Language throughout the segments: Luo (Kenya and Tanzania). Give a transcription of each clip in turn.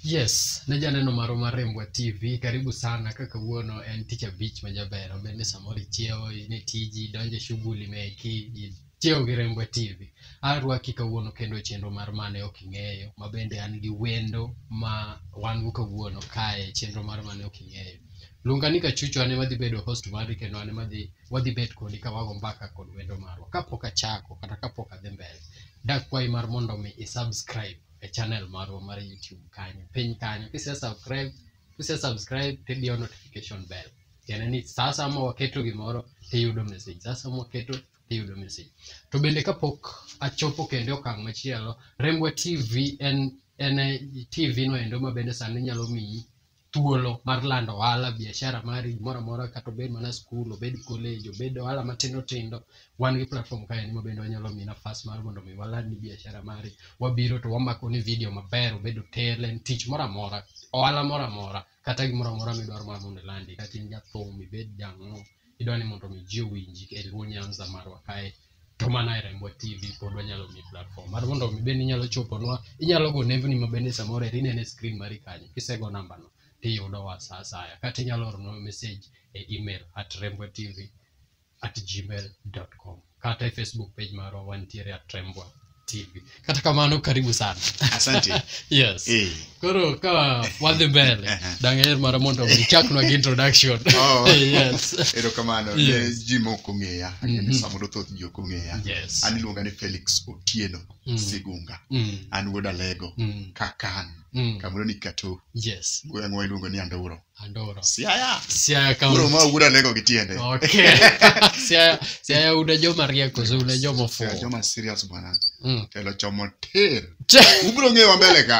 Yes, ne janeno maro mar Rembwa TV. Karibu sana kaka wuono en tich abich ma jaber. Obed ni samoro ichiewo, in e tiji, donjo e shughuli meki, Chiew gi Rembwe TV. Arwaki kawuono kendo e chenro mar mane ok ing'eyo, ma bende an gi wendo ma wan go kawuono kae e chenro mar mane ok ing'eyo. Luonga ni Kachucho ane madhi bedo host mari kendo ane madhi wadhi bet kodi ka wago mbaka kod wendo marwa. Kapok achako kata kapok adhi mbele, dakwayi mar mondo mi isubscribe e channel marwa mar YouTube kanyo. Piny kanyo kise subscribe, kise subscribe tidiyo notification bell. Tiende ni sasa ma waketo gimoro tiyudo message. Sasa ma waketo iyudo message to bende kapok achopo kendo e okang' machielo rembwa tv en en e tv no endo ma bende sani nyalo miyi thuolo mar lando ohala biashara mari gimoro amora kata obed mana skul obed college obed ohala matindo tindo wan gi platform ka en ma bende wanyalo miyi nafas mar mondo mi waland ni biashara mari wabiro to wamako ni video maber obed hotel en tich moro amora ohala moro amora kata gimoro amora midwaro mar mondo ilandi kata in jathum ibed jang'o idwa ni mondo mi ji owinji e Luo Nyanza marwa kae to mana e Rembwa TV pod wanyalo mi platform mar mondo mi bende inyalo choponwa inyalo go nembni ma bende samoro eri inene screen mari kanyo kisego namba no tiyudo wa sa asaya kata inyalo ornwa message e email at rembwa tv at gmail.com kata e facebook page marwa wantiere at trembwa tv kata kamano karibu sana asante yes Eh. koro ka wadhi mbele Aha. dang'er mara mondo ichaknwa gi introduction Oh. yes erokamano ne Yes. ji mok ong'eya Mhm. mm samoro thoth ji ok ong'eya yes an iluonga ni felix otieno Mm. sigunga Mm, an wuod alego mm, kakan mm, kamoro ni kato yes gweng'wa iluongo ni anduro andoro siaya siaya kama koro ma wuda lego gi tiende okay siaya siaya una joma rieko so una joma Siaya ofuwo joma serious bwana Mm. telo chomo tir Che- ubiro ng'eyo mbele ka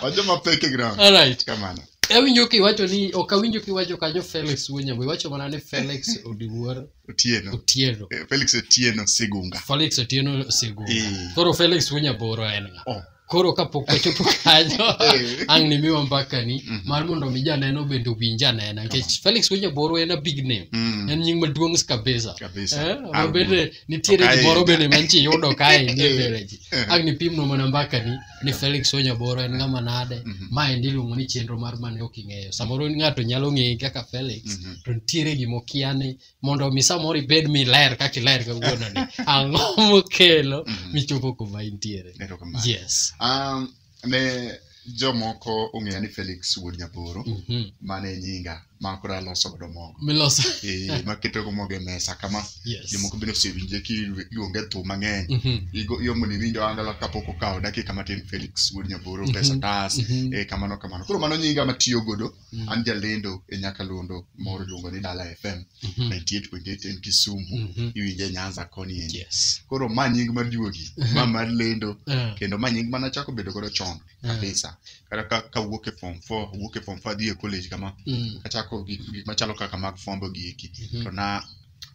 wajoma peke ground all right kamano awinjo kiwacho ni ok awinjo kiwacho kanyo felix wuonyambo iwacho mana ni felix odiwuor otieno otieno Eh, felix otieno sigunga felix otieno sego Eh. koro felix wuonyaboro en ng'a oh koro kapok wachopo kanyo Eh. ang' nimiwa mbakani Mhm. mar mondo mi janeno bende owinj anena nikech felix wenyaboro en a big name Mm. en nying maduong' kabisa Kabisa. Eh, Ang' ma bende nitiere Okae. gimoro bende manchi yudo kae ni Eh. mbele ji Eh. ang' nipimno mana mbakani ni felix wenyaboro en ng'ama nade Mhm. ma endi iluongo ni chenro mar mane ok ing'eyo samoro ng'ato nyalo ng'eye kaka felix Mhm. to nitiere gimokiane mondo mi samoro ibed miler kaka iler kawuononi ang'o mokelo Mhm. michopo kuma intiere Erokamano. yes Um, ne jomoko ong'eya ni Felix Wuod Nyaboro Mhm. mane nyinga ma koro aloso godo mogo. miloso Eh, maketo go mogo e mesa kama yes jomoko bende osewinje kiluonge thum mang'eny. Mhm. Igo- Iyomo ni winjo angala kapok okawo dakika matin Felix Wuod Nyaboro Mhm. pesa tas Mhm. eh, kamano kamano. Koro mano nyinga matiyo godo Mm. an jalendo e nyakalondo moro iluongo ni dala fm Mhm. 98.8 en kisumu Mhm. iwinje nyanza koni endi Yes. koro ma nying maduogi ma mar lendo Eh, kendo ma nying mana chako bedo godo chon Mm. kabisa kata ka- ka wuok e form 4 wuok e form 4 adhi e college kama mm, achako gik gik machalo kaka mag fombo gi eki mhm, to na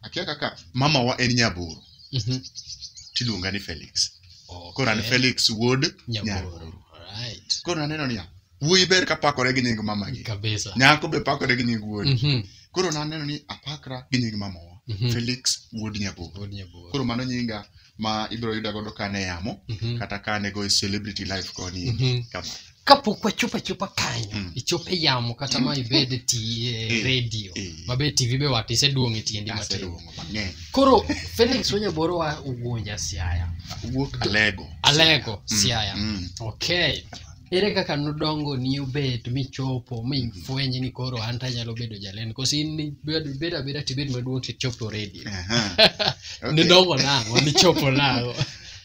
akia kaka mama wa en nyaboro mhm. tiluonga ni felix koro an Okay. felix wuod Nyaboro. nyaboro Alright. koro naneno niya wuoyi ber ka pakore gi nying mamagi kabisa nyako be pakore gi nying wuodi Mhm, koro naneno ni apakra gi nying mamawa mhm. felix wuod nyabugo Wuod Nyabugo. koro mano nyinga ma ibiro yuda godo kane yamo Mhm, kata kane go e celebrity life koni mhm. kama kapok wachopo achopa kanyo Mm. ichope yamo kata ma ibed e ti- e Eh, redio eh. mabe tv be wat iseduong' e tiendi matin aseduongo mang'eny koro felix wanyaboro wa ugunja siaya wuok alego alego Mm, siaya mm. okay Ere kaka nodongo ni obet michopo mi fwenye ni koro an to anyalo bedo jalendo koso in ni bed bed abeda tibed maduong' tichop to radio Aha. Okay. nidongo nang'o nichopo nang'o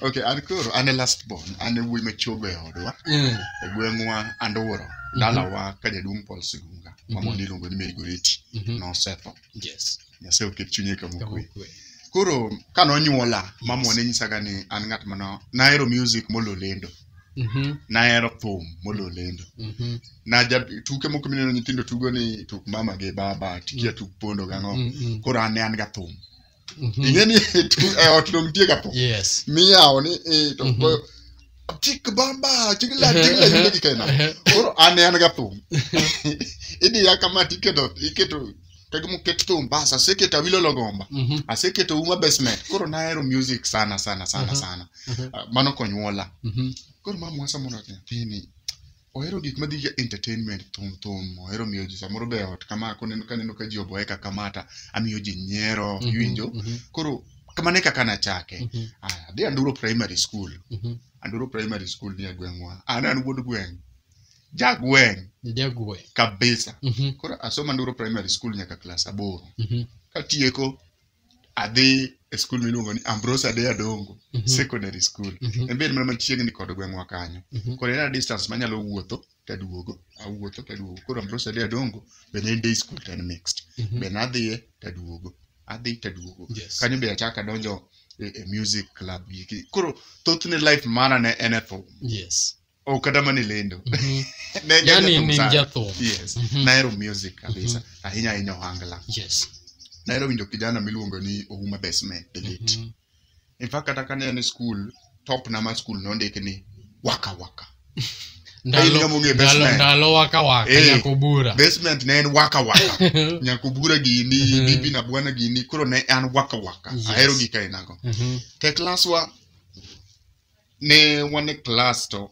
Okay, an koro an e last born, an e wuoyi machogo e odwa, Mm, e gweng'wa Andoworo, dalawa ka jaduong' Paul Sigunga, ma Mhm. mondo iluongo ni Mary Goreti, mhm, nosetho. yes Nyasaye oket chunye kama kama okwe. okwe. Koro ka nonyuola, mamwa ne nyisaga ni an ng'at ma no- nahero music molo lendo. Mhm, nahero thum molo lendo mhm, naja tuke moko mineno nyithindo tugo ni tuk mama gi baba tikia tuk pondo gang'o mm, mm, koro an ne an ga thum mhm. ing'e ni tu- e ot dong nitie ga thum Yes. miyawo ni eh, to Mhm. goyo, tik bamba tigla tigla yimbe gi kaina Ehe. koro an ne an ga thum idiya kama tiketo iketo kagi muket thum bas aseketo awilo logomba Mhm. aseketo uma basement koro nahero music sana sana sana Mhm. sana Mhm. Ah, mano konyuola Mhm. koro mama wasa mondo nyathini ohero gik madhi gi entertainment thum thum ohero miyo ji samoro be ot kama koneno kaneno ka ji oboye kaka mata amiyo ji nyiero Mhm. iwinjo Mhm. koro kamano e kaka nachake Mhm. Aya, adhi anduro primary school Mhm. anduro primary school ni e gweng'wa an an wuod gweng' jagweng Jagwe. kabisa Mhm. koro asoma nduro primary school nyaka klas aboro Mhm. katieko adhi e skul miluongo ni ambrose ade adongo Mhm. secondary school Mhm. en bed mana machiegni kod gweng'wa kanyo Mhm. koro en a distance manyalo wuotho taduogo awuotho taduogo koro ambrose ade adongo bende en day school to en mixed Mhm. bende adhiye taduogo adhi taduogo Yes. kanyo be achako adonjo e, e music club giki koro thothne life mara ne en e thum Yes. oh, kata mana e lendo Mhm. Ne en Yani jathum ne en sana. jathum. yes Mhm. nahero music kabisa ahinya ahinya ohangla Yes. nahero winjo kijana miluongo ni ouma besme the late Mhm. in fact kata kane en e school top na ma school nondiki ni waka waka Ndalo- Hey, ngamo ng'e ndalo- basement. ndalo waka waka Eh. nyako bura basement ne en waka waka nyakubura gini Mhm. bibi na bwana gini koro ne an waka waka Yes. ahero gika inago Mhm. te klaswa ne wan e klas to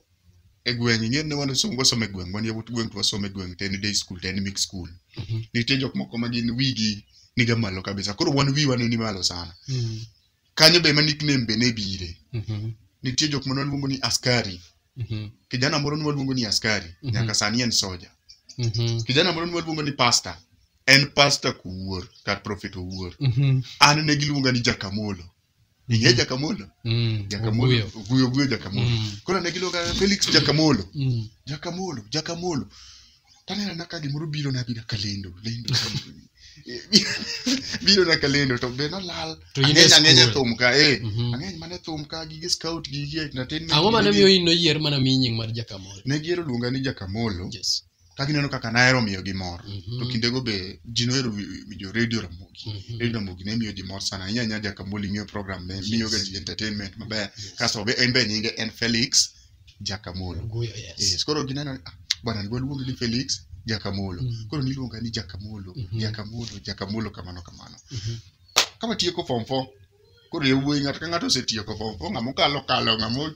e gweng' ing'e ne wan somo wasomo e gweng' wan yawuot gweng' to wasomo e gweng' to en day school to en mix school Mhm. nitie jok moko ma gin wigi niga malo kabisa koro wan wiwa ne ni malo sana Mm. kanyo be ma nickname be ne bire Mhm. nitie jok ma nwaluongo ni askari Mhm. kijana moro nwaluongo ni askari Mhm. nyaka sani en soja Mhm. kijana moro nwaluongo ni pasta en pasta kuwuor kar prophet owuor Mhm. an ne giluonga ni jakamolo ing'e jakamolo Mm. jakamolo Oguyo. oguyo oguyo jakamolo Mm. koro ne giluonga felix jakamolo Mm. jakamolo jakamolo taneno na ka gimoro biro na bira kalendo lendo biro na kalendo to be nolal To in e ang'eny ang'eny e school. thum ka eh Mhm. ang'eny mane thum ka gige scout gige entertainment ang'o mane miyo in noyier mana mi nying mar jakamol ne giero luonga ni jakamolo yes ka gineno kaka nahero miyo gi mor Mhm. to kindego be ji nohero wi- winjo radio ramogi Mhm. radio ramogi ne miyo ji mor sana ahinya ahinya jakamoli miyo program ne Yes. miyoga ji entertainment maber Yes. kasto be en be nyinge en felix jakamolo Oguyo, yes. yes. koro gineno ni, "Ah, bwana ni waluonge ni felix jakamolo Mm. koro niluonga ni jakamolo Mhm. jakamolo jakamolo kamano kamano Mhm. kama tieko form four koro yawuoyi ng'ato ka ng'ato osetieko form four ng'ama okalo kalo ng'ama o-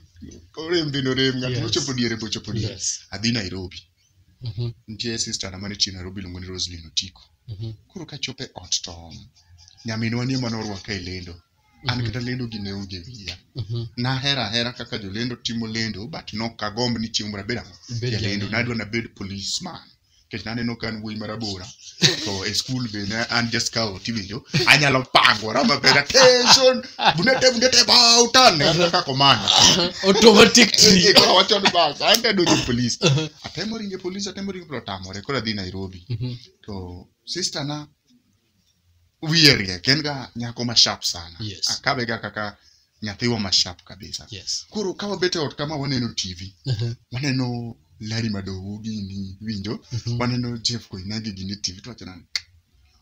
orem bende orem ng'at Yes. mochopo diere be ochopo diere Yes. adhi nairobi Mhm, nitie sister na mane tiyo nairobi iluongo ni roslin otiko mhm, koro kachopo e ot to nyaminwa ni ema norwaka e lendo an kata lendo gi ne onge wiya mhm. nahero ahera kaka jolendo timo lendo but nokagomb ni chieng' moro abed ang'o Ibed jalendo jalendo. nadwa nabed policeman nikech naneno ka an wuoyi marabora to e skul be ne an ja scout iwinjo anyalo pangora maber attention bundete bundete bautan aneno ka komanda automatic tree Koro awacho ni bas an te donjo e polis atemo ringe polis atemo ringe polis otamore koro adhi nairobi Mhm. to sister na wiye riek en ga nyako ma sharp sana Yes. akabe ga kaka nyathiwa ma sharp kabisa yes koro ka wabet e ot kama waneno tv Mhm, waneno lari madogo gini winjo mhm, waneno jeff koinagi gini tv to wachana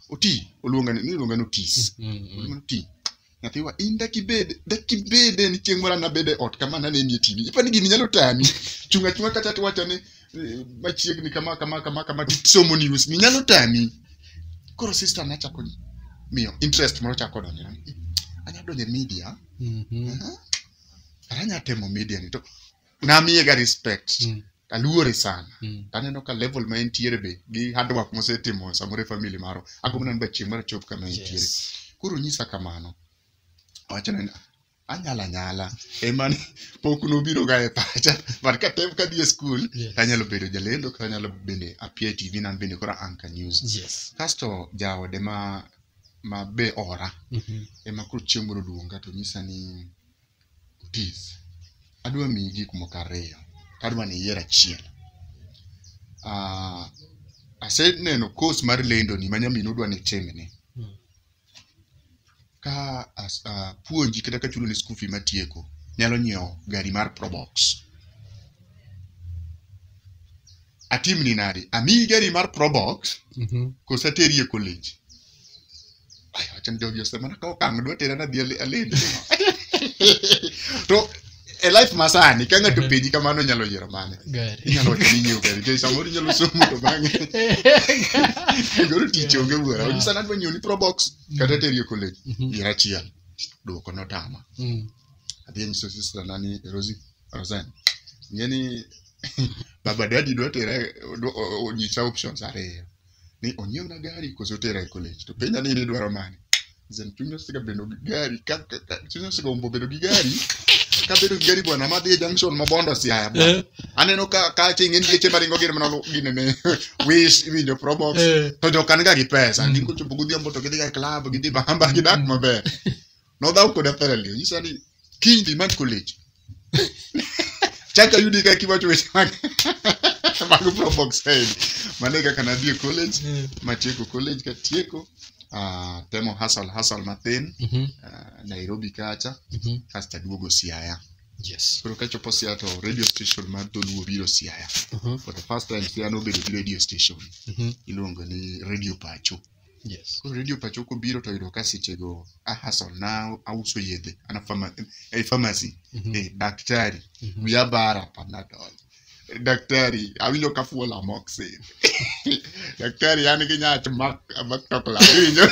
oti oluonga ni iluonga ni otis mhm, mhm. Oluonga ni oti nyathiwa in dakibed dakibede ni chieng' moro anabede ot kama nanenie tv ipani gini nyalo tami chung' achung'a kacha tiwacho ni eh, machiegni kama kama kama kama tisomo news ni nyalo tami koro sister nachako miyo interest moro chako donjo anya donjo e media Mhm. Aha. Kara anya temo media ni to namiyega respect Mm. aluore sana Mm. taneno ka level ma entiere be gi hard work mosetimo samoro e family maro agombo neno bachieng' mar chop kama entiere Yes. koro nyisa kamano wacho ni anyala nyala emani pok nobiro ga e pacha but katem kadhi e skul Yes. tanyalo bedo jalendo kata anyalo bende apia e tv nan bende koro anka news Yes. kasto jaode ma ma be ora Mhm. ema koro chieng' moro oluonga to nyisa ni Otis, adwa miyi gik moko ariyo, adwa ni iyier achiel. Ah, aseneno course mar lendoni ma nyamin odwa ni itimni. Mm. Ka as- ah, puonji kata ka chuloni school fee matieko, nyalo nyiewo gari mar Probox. Atimni nadi? Amiyi gari mar Probox Mhm. koso ateri e college? Ay, wacha njogi osema na kao kang dwa tera na dhi ali- alendo to e life masani ka ng'ato penji kamano nyalo yiero mane Gari. inyalo wacho ni nyiewo gari nikech samoro inyalo somo to bang'e goro tich onge wuora Yeah. onyisa nadwa nyiewo ni probox kata teri e college Mhm. yier achiel dwoko notama Mm. adhi anyiso sister na ni rosi rosen ng'e ni baba dadi dwa tera dwa- o- o- onyisa options ariyo ni onyiewna gari koso otera e college to penja ni idwaro mane Zen chunya siga bedo gi gari ka ka- ka- chunya siga umbo bedo gi gari ka bedo gi gari bwana madhi e junction ma bondo siaya bwana Eh, aneno ka ka ching en geche maringo gin mana gine ne wish iwinjo probox eh. to jokan ga gi pesa Mm. gin kochopo godhiambo to gidhi ga e club gidhi bamba gidak maber nodhaw koda thoroughly onyisa ni kiny dhi mad college chaka yudi ka kiwacho weche mag mag probox side mane kaka nadhi e college Mm. matieko college katieko ah, temo hasal hasal mathin Mhm. ah, nairobi kacha Mhm. kasto aduogo siaya Yes. koro kachopo siaya to radio station mar dholuo biro siaya Mhm. for the first time siaya nobedo gi radio station Mhm. iluongo ni radio pacho Yes. Koro redio pacho kobiro to yudo ka sechego a hustle na auso yedhe ana pharma- eh, pharmacy Mhm. eh, daktari Mhm. wiya bara panadol daktari awinjo ka fuol amoxin daktari an gi nyach mak mak tokla iwinjo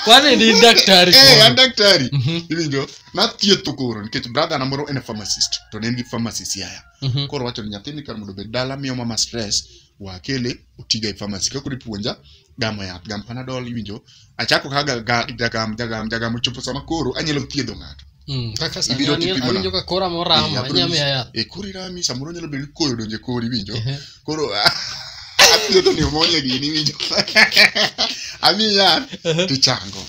Kwani ni daktari eh an koro? daktari Mhm. iwinjo nathietho koro nikech brother na moro en a pharmacist to ne en gi pharmacy siaya Mhm. koro wacho ni nyathini kar mondo obed dala miyo mama stress wakele otiga e pharmacy kaka ipuonja gamo yath gam panadol iwinjo achako kaka ga- jagam jagam jagam ochopo sama koro anyalo thiedho ng'ato Mm, kaka sani Ibiro anil- tipimo awinjo ka kora moramo Eh, abro inyame nyisi- yath e kori rami samoro nyalo bedo ni koyo donjo e kori iwinjo Ehe. koro athiedho pneumonia gini iwinjo ami yath tichango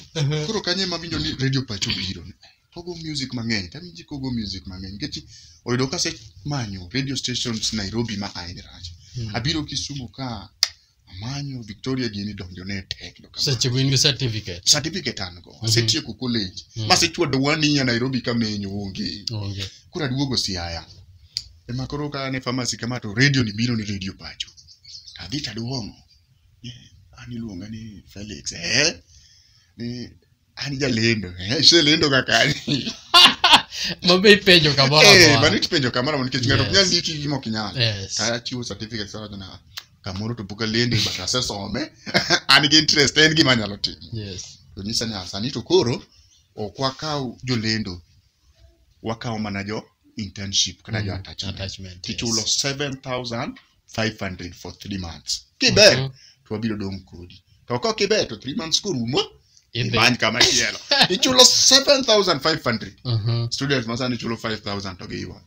koro kanye mawinjo ni radio pacho biro Kogo music mang'eny, tami ji kogo music mang'eny. Nikech oyudo kase manyo radio stations Nairobi ma ae rach. Abiro Kisumu ka amanyo Victoria gini donjo ne tek. do kamano. Seche go in gi certificate. Certificate an go. Mhm. Asetieko college. Mhm. Masechwado wani ya Nairobi kamenyo onge. Onge. kura duogo siaya ema koro ka ne pharmacy kama to radio ni biro ni radio pacho adhi taduong'o an iluonga ni felix eh ni an jalendo Eh, iselendo kaka an. mabe ipenjo kamoro Eh, amora. mano itipenjo kamoro amora nikech ng'ato ok nyal Yes. ndiki gima ok inyal Yes. tachiwo certificate sa wachona kamoro to pok alendo but asesome an gi interest en gima anyalo timo Yes. to nyisa ni "Ah, sani to koro ok wakaw jolendo wakawo mana jo internship kata jo Mm, attachment attachment, yes. tichulo 7000 500 for 3 months kiber Mhm. to wabiro dong' kodi to ka ok iber to 3 months korumo Idhi. imany kama chielo ichulo 7500 Mhm, students ma sani chulo 5000 to giywak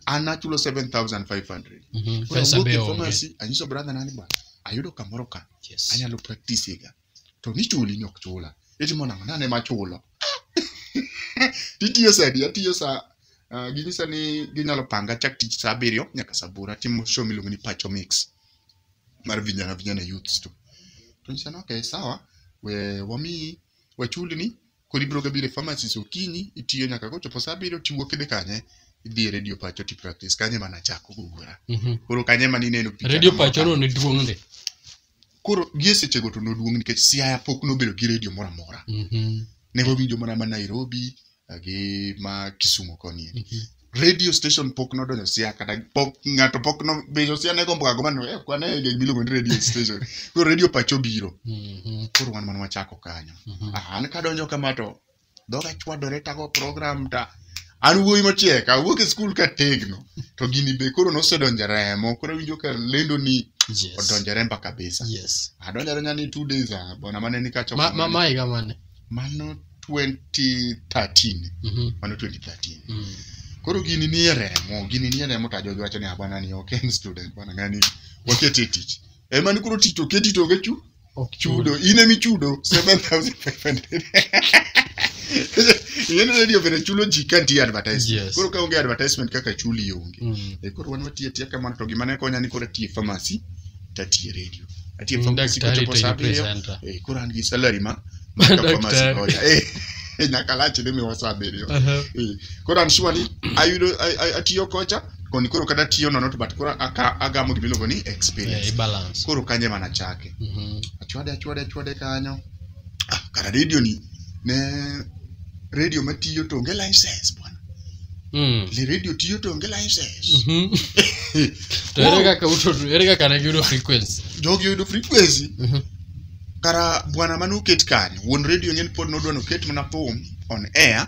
an achulo 7500 mhm. Koro pesa awuok be e onge pharmacy, anyiso brother nani bwana ayudo kamoro ka Yes. anyalo practice ga to nichuli ni ok chula eti mondo ang'o nane machulo titiyo sa adi atiyo sa ah, ginyisa ni ginyalo panga chak tich sa abiriyo nyaka sa aboro atimo show miluongo ni pacho mix mar vijana vijana youths to to nyisa ni okay sawa we wami wachuli ni Koro ibiro gabiro e pharmacist okinyi, itiyo nyaka kochopo saa abiriyo tiwuok idhi kanye, idhi e radio pacho ti practice, kanye ema nachako gugura. Mhm. Koro kanye ema nineno picha Radio na moro pachono ne duong' ndi. koro gie sechego to noduong' nikech siaya pok nobedo gi redio moro amora Mhm. ne wawinjo mana ma nairobi eh, gi ma kisumo koni Mhm. radio station pok nodonjo sia kata pok ng'ato pok nobejo sia ne gombo kago mano eh kwane e gig miluongo ni radio station koro radio pacho biro Mhm, koro wan mana wachako kanyo mhm. Ah, an kadonjo kama to dhoga chwadore tago program ta an wuoyi mochiek awuok e skul ka tegno to gini be koro nosedonjo e remo koro awinjo ka lendo ni Yes. odonjo e remba kabisa Yes. adonjo adonja ni two days ah, bwana mane ni kacho Ma- ma- ma higa mane? mano 2013 Mhm. mano 2013 Mm. koro gini nie remo gini nie remo to ajojo wacho ni "Ah, bwana ni ok en student bwana ngani waket e tich ema ni koro tich to keti to onge chu Ok chudo in emi chudo 7500 yen radio bende chulo ji ka nitie advertisement Yes. koro ka onge advertisement kaka chuli onge Mm. e koro wan watiye tiya kamano to gima ne konya ni koro atiye pharmacy tatiye redio atiye Mm, pharmacy daktari kochopo to saa yupe abiriyo santa. eh, koro an gi salary ma ma ka Daktari. pharmacy oya eh nyaka lach ni miwa saa abiriyo Aha. Eh, koro an sure ni ayudo a- a- atiyo kocha koni koro kada tiyo nono to but koro aka- agamo gimiluongo ni Eh, experience balance. koro kanye mana chake Mhm. achwade achwade achwade kanyo Ah, kara radio ni ne radio matiyo to onge license bwana Mm. le radio tiyo to onge license Mhm. To ere kaka uto- ere kaka ne giyudo frequency? jogi oyudo frequency Mhm. kara bwana mane oket kani wuon radio ng'en pod nodwa noket mana thum on air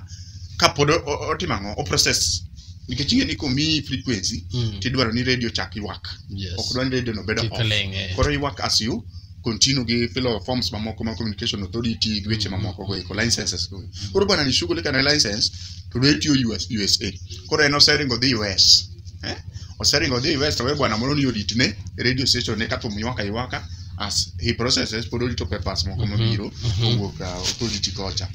ka pod o- o- otimo ang'o oprocess nikech ing'e ni komiyi frequency Mm. tidwaro ni radio chak ywak Yes. ok dwa ni radio no bedo Kik off. ling', eh. koro ywak as you continue gi filo forms mamoko ma communication authority gi weche mamoko go eko licenses go koro bwana nishughulika na license to do itiyo US, USA koro en oseringo dhi US eh? oseringo dhi US to we bwana moro ni odit ne radio station ne kathum ywaka ywaka as he processes pod orito papers moko mabiro owuok uh, authority kocha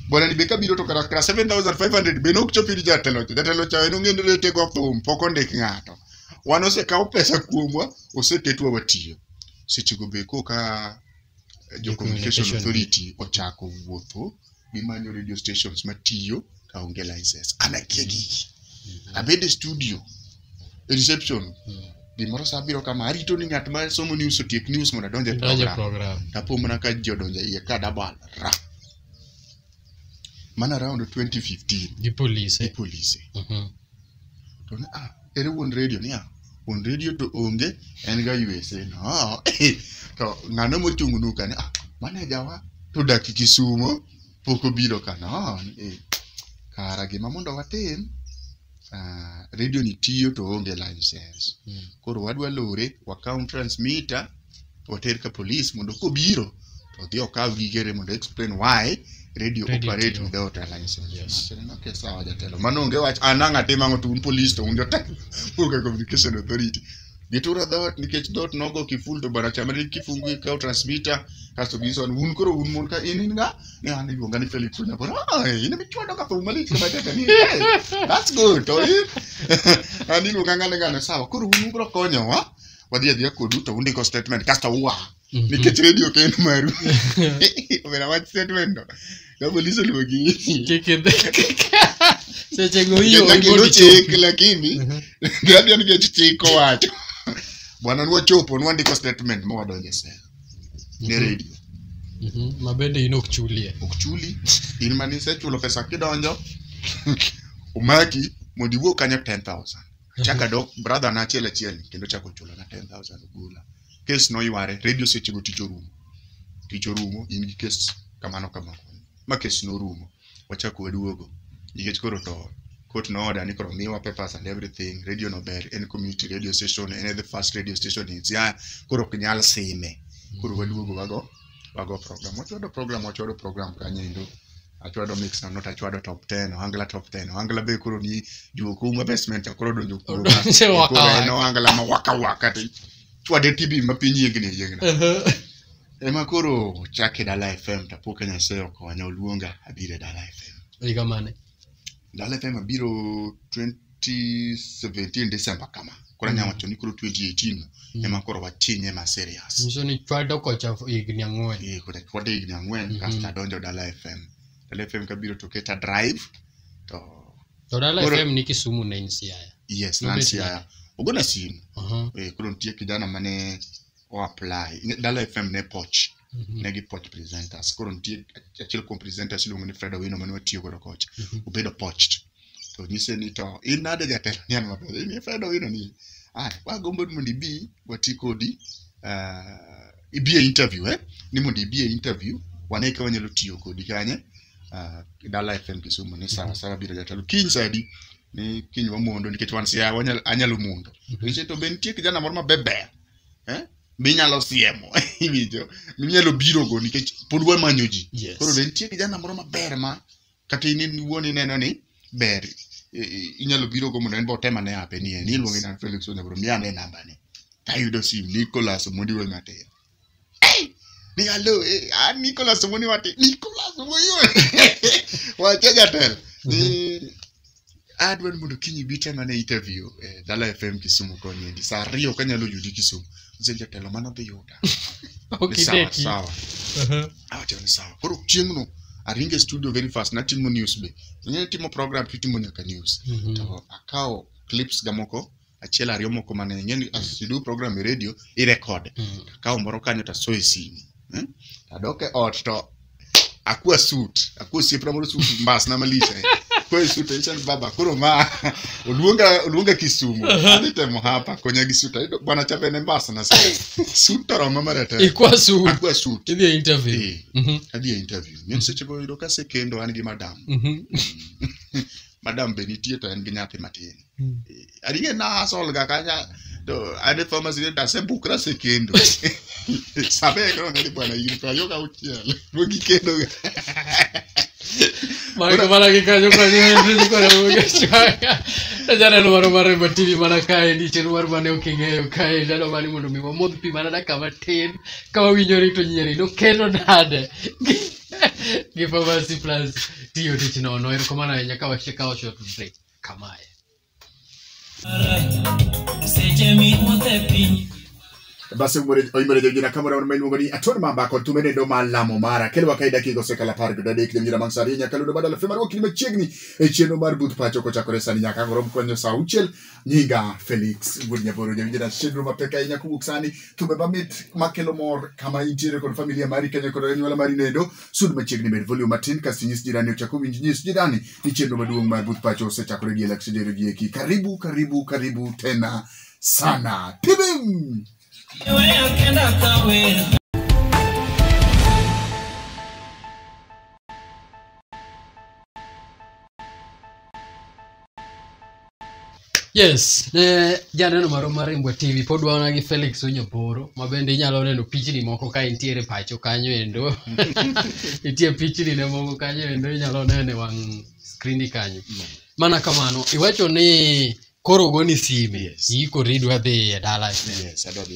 bwana ni be kabiro to kara kara 7500 be nok chopi ni jatelo cha jatelo cha en ong'e rete go thum pok ondik ng'ato wan osekawo pesa kuomwa oseketwa watiyo seche go be koka eh, jo communication Communication. authority ochako wuotho gimanyo radio stations matiyo kaonge license an akia gigi abede studio e reception Mm. gimoro sa biro kama arito ni ng'at ma somo news otiek news mondo adonje Donje program program. tapo mana ka ji odonje iye ka dabal ra mana around 2015 gi polise gi polise Mhm. to ne ah ere wuon radio ni ah wuon radio to onge en ga USA no ah, to ng'ano mochung nu ka ni ah maneja wa to dak Kisumo pok obiro ka no ah, eh, kara gima mondo watim uh, radio ni tiyo to onge license Mm. koro wadwa lore wakaw transmitter water ka police mondo kobiro to odhi okaw gigere mondo explain why radio Radio operate tiyo. without a license Yes. Machine no ke sawa jatelo mano onge wach an ang' atim ang'o to un police to un jotelo onge communication authority gituro dhoot nikech dhoot nogo kiful to bana chama ni kifungu ikaw transmitter kasto ginyiso ni un koro un mon ka in in nga Ne an iluonga ni Felix Onyabor. Ah, in ema ichwado ka thum malich kama kaka ni. Hey, That's good. To in an iluonga ngane ngane sawa. Koro un ubro konyowa. Wadhi adhiya kodu to undiko statement kasto ua. Nikech radio ok en maru. Omera wach statement no. Ka polis oluongi. sechego hiyo Nyaka iluw chik lakini radio nikech chik owacho. Bwana nwachopo nwandiko statement ma wadonjo e sel. ne Mhm. radio Mhm, ma bende in ok chulie ok chuli in mane isechulo pesa kidonjo omaki mondo iwuog kanyo 10000 chaka dok brother na achiel achiel kendo chako chulo na 10000 ogola kes noyware radio sechego tich orumo tich orumo in gi kes kamano kamano ma kes norumo wachak waduogo nikech koro to court no order ni koro miwa papers and everything radio no ber en community radio station en the first radio station in Siaya koro ok nyal sime koro waduogo wago wago program wachwado program wachwado program kanyo endo achwado mix na not achwado top 10 ohangla top 10 ohangla be koro ni juoko uma basement cha koro donjo kuoma Odonje waka Koro en waka. ohangla ma waka waka to chwade tibi ma piny yiengni yiengni Ehe. Ema koro chake Dala FM to apo ka Nyasaye okonya oluonga abiro e Dala FM. Higa mane? Dala FM abiro 2017 December kama. Koro Mm. anyalo wacho ni koro 2018 no, Mm. ema koro watinye ma serious. Nyiso ni chwado kocha higni ang'wen. Eh, koro chwade higni ang'wen Mhm. kasto adonjo Dala FM. Dala FM kabiro to keta drive to To Dala Koro- FM ni Kisumu ne in Siaya. yes Nobet Nancy nade? aya. Ogona simu. Aha. Eh, koro nitie kijana mane o apply Ne- dala fm ne poch ne gi poch presenters koro nitie achiel kuom presenters iluongo ni fred owino mane watiyo godo kocha obedo pocht to nyise ni to in nade jatelo ni an maber in fred owino ni ah wagombo ni mondo ibi wati kodi ah, ibi e interview eh ni mondo ibi e interview wane ka wanyalo tiyo kodi kanye ah, dala fm kisumu ni sawa sawa biro jatelo kiny sadi ni kiny wamondo nikech wan sia wanyal- anyalo mondo to nyise to be nitie kijana moro mabeber eh? minyalo siemo iwinjo minyalo birogo nikech pod wamanyo ji Yes. koro be nitie kijana moro maber ma kata in in wuon ineno ni ber i- i- inyalo birogo mondo en be otem ane ape ni en iluonge na Felix Onyabro mi ane nambane tayudo sim Nicholas Omondi Wematin hey! nigalo eh, ah, nicolas omoni wati nicolas omoni wacha jatelo ni adwa ni mondo kiny ibi tema ne interview eh, dala fm kisumu koni endi saa ariyo kanyalo yudi kisumu ose jatelo mano dhi yuda Ni sawa, okideki sawa Aha. awacho ni sawa koro chieng'no aringe studio very fast natimo news be ing'e timo program kitimo nyaka news Mhm. to akawo clips ga moko achiel ariyo moko mane ing'eni as you do program e radio i record Mm. akawo moro kanyo to asoyo e simu eh? adok e ot to akwa suit akwa osiepna moro suit mbasna malich eh. akwa e suit ayicha ni baba koro ma oluonga oluonga kisumu adhi temo hapa konya gi suit ayudo bwana cha bende mbasna sa suit to roma maratego ikwa su akwa suit idhi e interview Eh, Mhm, adhi e interview ng'en seche go yudo kasekendo an gi madam mhm. madam be nitie to en gi nyathi matin ariye na asol ga kanya to ade thomas ni ta se bukra se kendo sabe ko ne bwana yiri pa yoga uchiel mo gi kendo ga Mara mana ke kajo kwa ni mimi kwa na mwe chaka. Tajana no mara mara ba TV mana kae ni chen war mane ukinge yo kae dalo mani mundu mi modh pi mana da kama tin kama winyori to nyeri no keno nade. Give us plus tiyo tich no no erokomana nyaka wachika wacho tudre. kamae. Seche miwuotho e piny basi umore- oimore jojina kamoro amora ma iluongo ni atone mamba kod tume nendo ma lamo mara kelwa kae dakika osekalo apar kod adek nyamira mang' sari nyaka ludo badala fe marwa kini machiegni e chenro mar but pacho kochakore sani nyaka angoro mkwanyo sa auchiel nyinga felix wuod nyaboro jawinjina chenro mapek ahinya kowuok sani tume mamit makelo mor kama intiere kod familia mari kenya kod anyuola mari nendo Sud machiegni med volume matin kasto nyis jirani ochako winj nyis jirani ni chenro maduong' mar Buth Pacho osechakore gi election dero gi eki. Karibu karibu karibu tena sana. Tibim! Yes, ne janeno marwa mar Rimbwa TV pod wana gi Felix Onyoporo ma bende inyalo neno pichni moko ka intiere pacho kanyo endo. Nitie pichni ne moko kanyo endo inyalo nene wang' skrini kanyo. Mana kamano, iwacho ni koro ogoni sime, Yes. ikori idwa dhi e dala. Yes, adwa dhi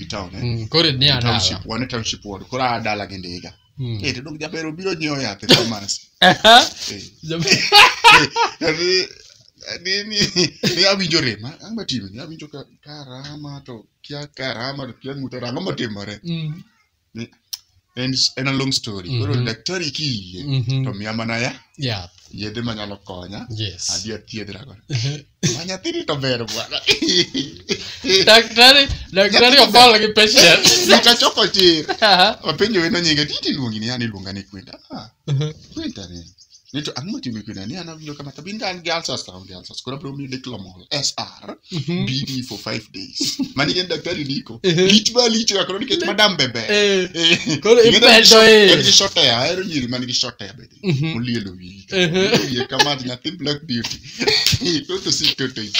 e town eh? Mm, koro ni E township, adala. wan e township ward koro aa dala gi ndiga Mm. Eh, to dong jaber obiro nyiewo yath e pharmacy Eh, Jaber- Yaani, ni ni ni awinjo rem ah, ang'o matime ni awinjo ka karama to kia karama to kia ng'uto rango matimore Mm. en, en a long story koro Mhm. daktari kiyie Mhm. to miya mana ya Yath. yedhe manyalo konya Yes. adhi athiedhra godo Ma nyathini to ber bwana Daktari, daktari obol gi patient. nikachoko tir Aha. wapenjo wendo nyinge titi luongi ni yani luonga ni kwinta Ah, Mhm. kwinta ni ni to ang'o matimi pina ni an awinjo kama tabi ndan gi alsas to aonge alsas koro abiro miyi diclomol sr bd for five days mani en daktari ndiko Ehe. lich ma lich ga koro nikech madam bebe Eh, Eh, koro ing'e ni en gi ipedo short- eh. en gi short hair, ahero nyiri man gi short hair bende Mhm. olielo wiyi Ehe. wiye kama nyathi black beauty toto si toto i.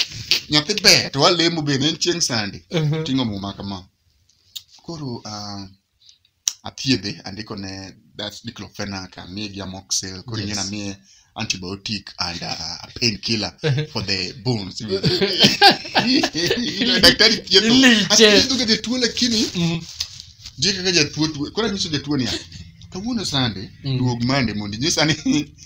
nyathi ber to walemo bende en chieng' sande Mhm. ting'o muma kama koro ah, athiedhe andiko ne that's diclofenac amiye gi amoxil koro ing'e Yes. namiye antibiotic and uh, a pain killer for the bones Ile daktari thiedho Iliche. athiedho ga jatuo lakini Mhm. ndiye kaka jatuo tuo koro anyiso jatuo niya kawuono sande Mm. duog mande mondo inyisa ni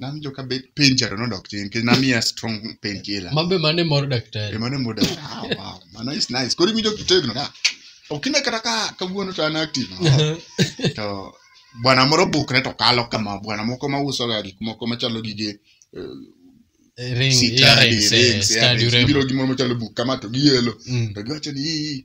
Nawinjo ka be- pain cha to nodok chien nikech namiya strong pain killer. Mambe mane mor daktari. Emane muda. Ah, wow. Ma nice nice. Koro iwinjo kitegno da. Okine kata ka kawuono to an active. to bwana moro bukre to kalo kama bwana moko ma uso ga gik moko machalo gige eh, Ring, sitadi, earrings, eh, rings, stadi earrings. urembo. Gibiro gi moro machalo buk kama to giyelo. Mm. To giwacho ni "Ii,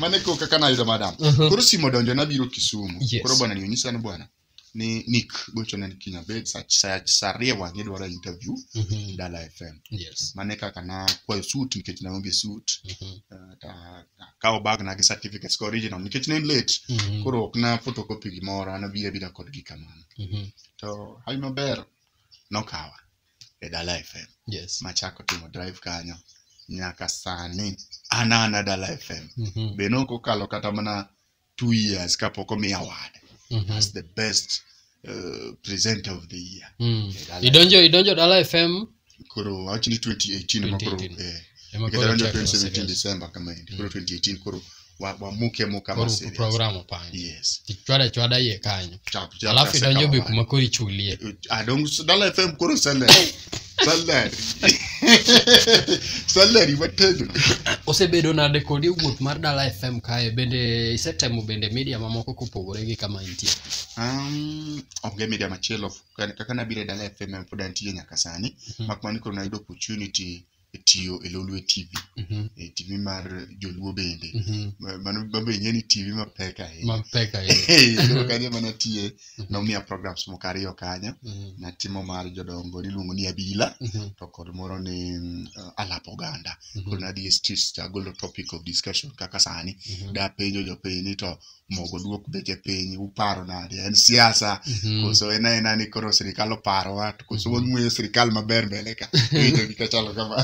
mane ko kaka nayudo madam Mhm. koro simo donjo nabiro kisumu Yes. koro bwana nionyisa ni bwana ni nick gocho ne kinya bed sa sa- sa ariyo wang'e dwaro interview Mhm. dala fm Yes. mane kaka na kwayo suit nikech naonge suit Mhm. eh, ta- ta- kawo bag na gi certificates ka original nikech ne en late Mhm. koro ok na photocopy gimoro anabira bira kodgi kamano Mhm. to hawi maber nokawa e dala fm Yes. machako timo drive kanyo nyaka sani anana dala fm Mhm. be nok okalo kata mana two years kapok omi award Mhm. as the best uh, presenter of the year Mm. E dala Idonjo idonjo dala FM koro awach ni 2018 ema koro 2018. eh, ema nikech koro adonjo chako 2017 serious. december kama endi koro 2018 koro wa- wamuke muka ma Koro serious. program opangi. Yes. Ichwada chwada iye kanyo. Chap, chap, Alafu kaseka idonjo be mabaya. kuma koro ichulie. adong dala fm koro salary salary salary watedo Osebedo nade kodi e wuoth mar Dala FM kae bende isetemo bende media mamoko kopogore gi kama intie. um, onge media machielo Kan- kaka nabiro e dala fm pod antie nyaka sani Mhm. mak mana ni koro nayudo opportunity tiyo e Lolwe TV, Mhm. e TV mar Joluo bende. Mhm. Ma- Mano mabe ing'e ni TV mapek ahinya. Mapek ahinya. Hey, koro kanyo ema natiye, nomiya programs moko ariyo kanyo. Mhm. Natimo mar jodongo niluongo ni Abila Mhm. to kod moro ni mm, uh, Alap Oganda. Mhm. Koro nadhi e streets to agolo topic of discussion kaka sani. Mhm. dapenjo jopiny ni to mogo duok beche piny uparo nade en siasa Mhm. koso en aena ni koro sirikal oparowa to koso wang'weyo sirikal maber mbele ka Iyudo gika chalo kama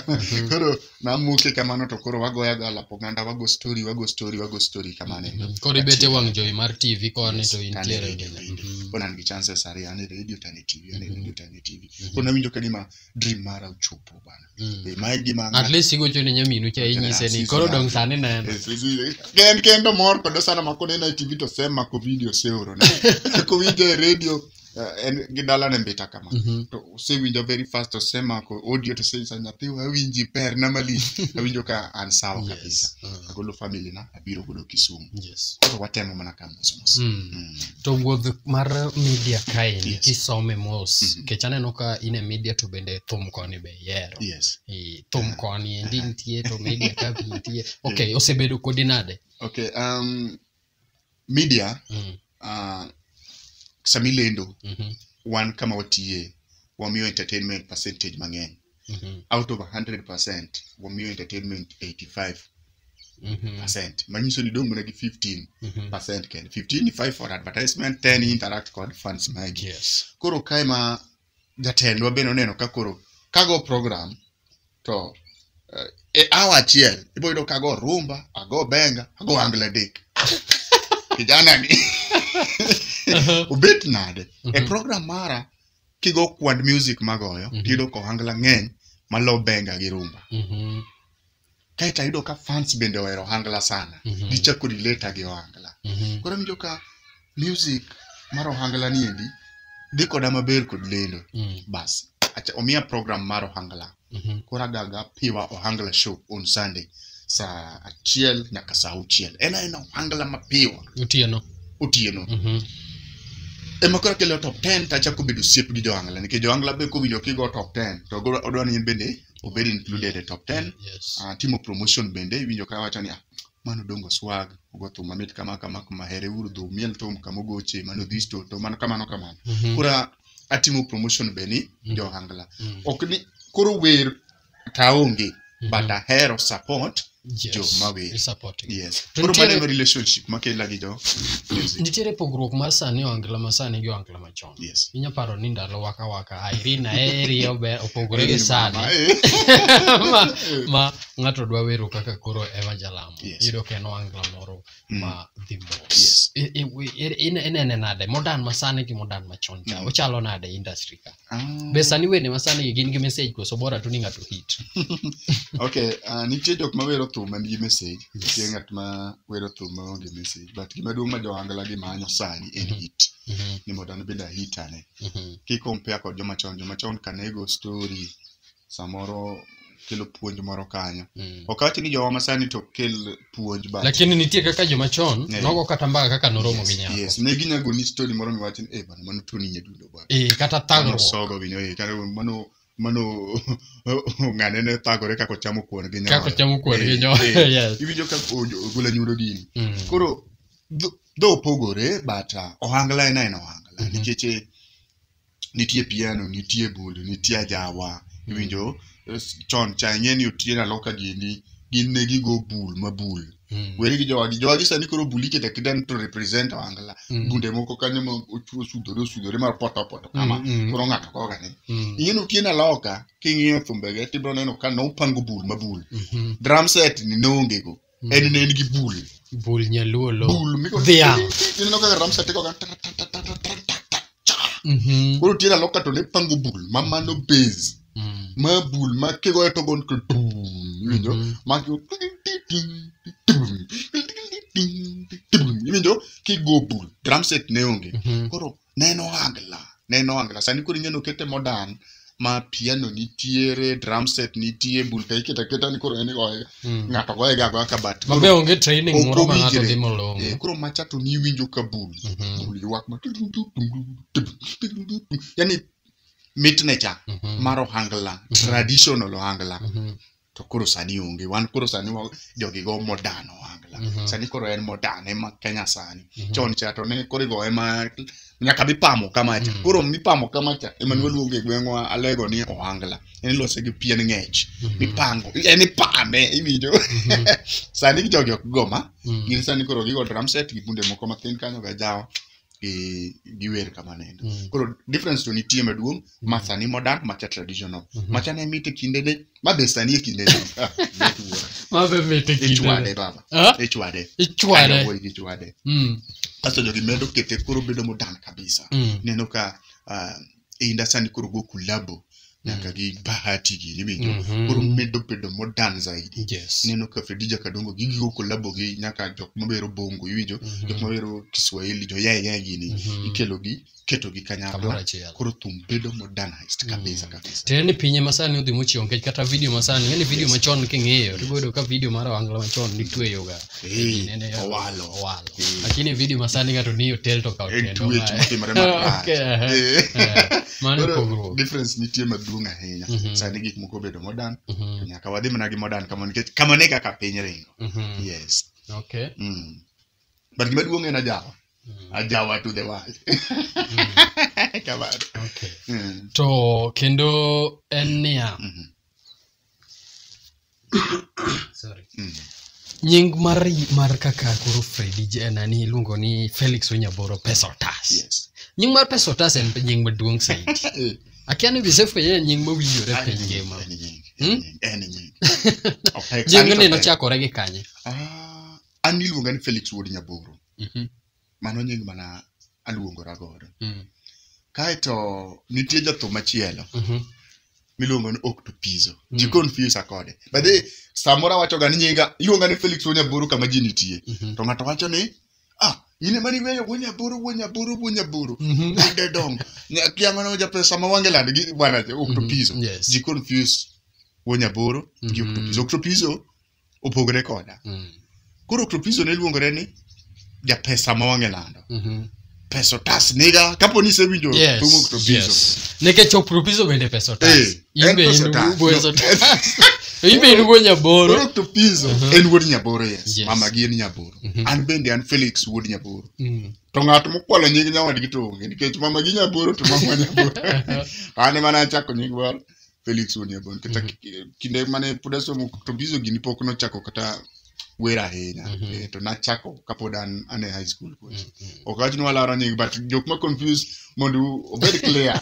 koro namuke kamano to koro wagoya ga lap oganda wago story wago story wago story kamano endo. Mhm. koro ibete wang' jowi mar tv koni to Yes, intiere tane radio bende. Mhm. Koro an gi chances ariyo an e radio tane tv an e radio tane tv Mhm. koro nawinjo ka gima dream mara ochopo bana Be ma e gima at least igocho ne nyaminu cha inyise ni koro dong sani neno Eh, sisi, eh, ken kendo mor kodo sana ma koneno e tv to sema ko video seoro ne kowinjo e radio eh, en gi dala ne mbita kama Mhm. to osewinjo very fast to sema ko audio to sesa nyathiwa awinji per na mali awinjo ka an sawa kabisa Yes. Ah. agolo family na abiro godo Kisumu. Yes. Koro watemo mana ka mos mos. Mm. Mm. To wuodh mar media kaendi Yes. kisome mos Mhm. kech aneno ka in e media to bende thum koni be ihero. Yes. Eh, Thum koni endi nitie to media ka be nitie. Okay, osebedo kodi nade? Okay, um, media Mm. uh, sama ilendo Mhm. wan kama watiye wamiyo entertainment percentage mang'eny Mhm. out of 100% wamiyo entertainment 85% Mhm. manyiso ni dong' mana gi 15% Mhm. kende 15 ni 5 for advertisement 10 ni interact kod fans magi Yes. koro kae ma jatendwa bende oneno ka koro kago program to eh, e awa achiel ibo yudo kago rumba ago benga ago angle dik kijana ni Mhm. obet nade e Mhm. program mara kigo kwand music magoyo Mhm. tiyudo ka ohangla ng'eny malo benga gi rumba Mhm. kaeto ayudo ka fans bende ohero ohangla sana Mhm. gichako dileta gi ohangla Mhm. koro winjo ka music mar ohangla niendi dhi koda maber kod lendo Mm. bas acha omiya program mar ohangla Mhm. koro agaga piwa ohangla show on sunday saa achiel nyaka saa auchiel en aena ohangla mapiwa Otieno. otieno Mhm. ema koro kelo top 10 to achako bedo osiep gi johangla nikech johangla be kowinjo kigo top 10 to go- odwa ni in bende obed included e top 10 Yes. Ah, timo promotion bende iwinjo ka wacho ni ah, mano dongo swag ogo thum mamit kama kama kama here uru dhu miel thum kama ogoche mano dhisto to mano kamano kamano Mhm. kora atimo promotion be ni Mm. johangla Mm. ok ni koro wer taonge Mhm. but ahero support Yes. jo mawer. You're supporting. yes To koro nitiere- maneno relationship makela gi jo music nitiere pogruok mar sani ohangla ma sani gi ohangla machon yes inya paro ni ndalo waka waka irina eri obe opogore gi sani Mama, eh. ma, ma ng'ato dwa wero kaka koro ema jalamo Yes. yudo ka en ohangla moro ma dhi mos Yes. I- i- we- i- ine- inene nade modern masani gi modern machon cha Mm. ochalo nade e industry ka Ah. be sani wende masani gi gin gi message koso bora tu ni ng'ato hit okay uh, nitie jok ma wero thum man gi message nitie Yes. ng'at ma wero thum ma onge message but gima duong' ma johangla gi manyo sani en Mhm. hit Mhm, ni mondo an bende ahit ane mhm, ki compare kod joma chon joma chon ka ne go story samoro kelo puonj moro kanyo Mm. ok awach ni jowa masani to ok kel puonj but lakini nitie kaka joma chon Yeah. nogo kata mbaka kaka noromo gi nyako yes ne ginyago ni story moro miwach ni eh bana mano toni nyadundo bwana Eh, kata mano thagruok sogo gi nyoyo kata mano mano ng'ane ne thagore kako chamo kuon gi nyoyo kako chamo kuon gi Eh, nyoyo eh. yes iwinjo ka ojo- ogolo nyudo dini Mm. koro dho- dho opogore but uh, ohangla en aena ohangla Mhm. nikech eh, nitie piano nitie bundu nitie ajawa iwinjo es- chon cha ing'e ni otieno aloka gini gin ne gigo bul ma bul Mm. weri gi jowagi jowagi sani koro bul ikete aketa ni to represent wangla Mm. bunde moko kanyo ma ochwo osudore osudore mar poto poto kama Mm, mm. koro ng'ato koga ni Mm. ing'e ni otieno aloka king'iyo thumbege tibiro neno ka nopango bul ma bul Mhm. drum set ni noongego en ne en gi bul bul nyaluo lo bul miko dhiang ineno kaka ramsa teko ka mhm. koro tiera loka to ne pango bul ma mano base mm. ma bul ma kigo to gon ko dum winjo mhm. ma kigo iwinjo kigo bul drum set ne onge mhm. koro neno angla neno angla sani koro inyalo kete modern ma piano nitiere drum set nitie bulta iketa keta ni koro en igoye Mm. ng'ato goye ga goya ka bat mabe onge training Ok moro ma ng'ato owinjre. timo long'o Eh, koro macha to ni iwinjo ka bul Mhm, bul ywak ma yani mitne cha mhm, mar ohangla traditional ohangla mhm. to koro sani onge wan koro sani wa- jogi go modern ohangla Mhm. sani koro en modern ema kenya sani Mhm. chon cha to ne koro igo ema nyaka mipamo kama cha Mhm. koro mipamo kama cha ema ne waluongo e gweng'wa alego ni ohangla en ilose gi pien ng'ech Mhm. mipango en ipame iwinjo Mhm. sani jogi ok goma Mhm. gin sani koro gigo drum set gi bunde moko mathin kanyo gajawa gi giwer kamanendo Mhm. koro difference to nitie maduong' ma sani modern macha traditional macha ne mit e kindene ma be sani e kindene Ah, mit wuora. ma be mit e kindene. ichwade baba Ah? ichwade Ichwade. Ayo, wuoyi gi ichwade Mm, kasto jogi medo kete koro bedo modern kabisa mm, neno ka ah, e inda sani koro go kulabo nyaka gi bahati gi niwinjo Mhm. koro medo bedo modern zaidi yes. neno ka fedija kadongo gi gigo kolabo gi nyaka jok mabero bongo iwinjo Mhm. jok mabero kiswahili jo yaye yaye gini Mhm. ikelo gi keto gi Kamoro kanyakla achiel. koro thum bedo modernized kabisa kabisa tiende ni pinye masani odhi mochiewo nikech kata video masani yani video Yes. machon king'iyo to iboyudo ka video mar ohangla machon nitweyoga Eh, Nene ya- owalo owalo Eh. lakini video masani ng'ato ni hotel to ka en hotel tuech omae. motimore marach Okay, aha. Eh. Eh, mano Koro pogruok difference nitie maduong' ahinya Mhm. sani gik moko obedo modern Mhm, nyaka wadhi mana gi modern kama nikech kama ne kaka piny ringo mhm. yes Okay. mm. but gima duong' en ajawa ajawa to the world kamano Okay. Mm. to kendo en niya Mhm. sorry Mm. nying mar mar kaka koro fredi je- nani iluongo ni felix onyaboro pesa otas yes nying mar pesa otas en nying maduong' saidi Eh, akia ni gisefwenye en nying mowinjore en piny nying, ngima en nying, Hmm? en nying, en nying. Opek- nying ni Opek. nochakore gi kanye Ah, an niluonga ni Felix Wuod Nyaboro Mhm. mano nying mana aluongora godo Mm. kaeto nitie jathum machielo Mhm. miluongo ni Octopizo Mm. ji confuse kode but eh, samoro awachoga ni nyinga iluonga ni Felix Wuod Nyaboro kama ji nitie Mhm. to ng'ato wacho ni ah in ema niweyo Wuod Nyaboro Wuod Nyaboro Wuod Nyaboro Mhm. lande dong kiang'ono japesa ma wange lande gi bwana Octopizo Yes. ji confuse Wuod Nyaboro gi Mhm. Octopizo Octopizo opogre koda Mm. koro tropizo ne luongore ni japesa ma wang'e lando Mhm. pesa otas niga kapo ni isewinjo Yes, thum ok tropizo yes. nikech opropiso bende pesa otas Eh, en imbe pesa otas. inugo pesa otas imbe inugo koro nyaboro ok tropizo Mhm. en wuod nyaboro yes Yes. mama gi en nyaboro Mhm. an bende an felix wuod nyaboro Mm. to ng'at mokwalo nying nyawadgi to onge nikech mama gi nyaboro to mama nyaboro an ema nachako nying moro Felix Oniebo nikech Mhm. ki- kinde mane pod asomo to bizo gini pok nochako kata wer ahinya Mhm. Eh, to nachako kapod an an e high school kuno. ok awach ni walaro nying but jok ma confuse mondo obed clear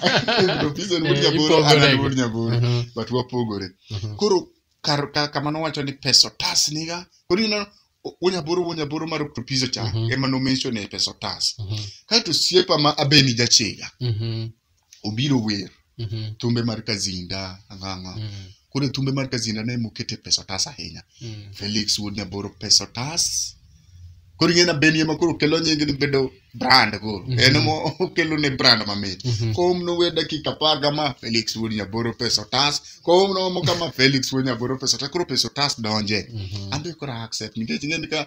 to bizo ni wuod Eh, nyaboro an an ipogorego. wuod nyaboro Mhm. but wapogore Mhm. koro kar ka- kama nowacho ni peso tas niga koro ineno o- wonyaboro wonyaboro mar oktopizo cha Mhm. ema nomention e peso tas Mhm. kaeto siepa ma abeni jachiga Mhm. obiro wer Mhm. thumbe mar kazinda ang'ang'a Mhm. koro e thumbe mar kazinda ne mokete pesa otas ahinya Mhm. felix wuod nyaboro pesa otas koro ing'e na beni ema koro kelo nyingi ni bedo brand koro Mhm. en ema okelo ne brand mamit Mhm. kom nowe dakika apar kama felix wuod nyaboro pesa otas kom nomo kama felix wuod nyaboro pesa otas koro pesa otas donje Mhm. ambe koro accept nikech ing'e ni ka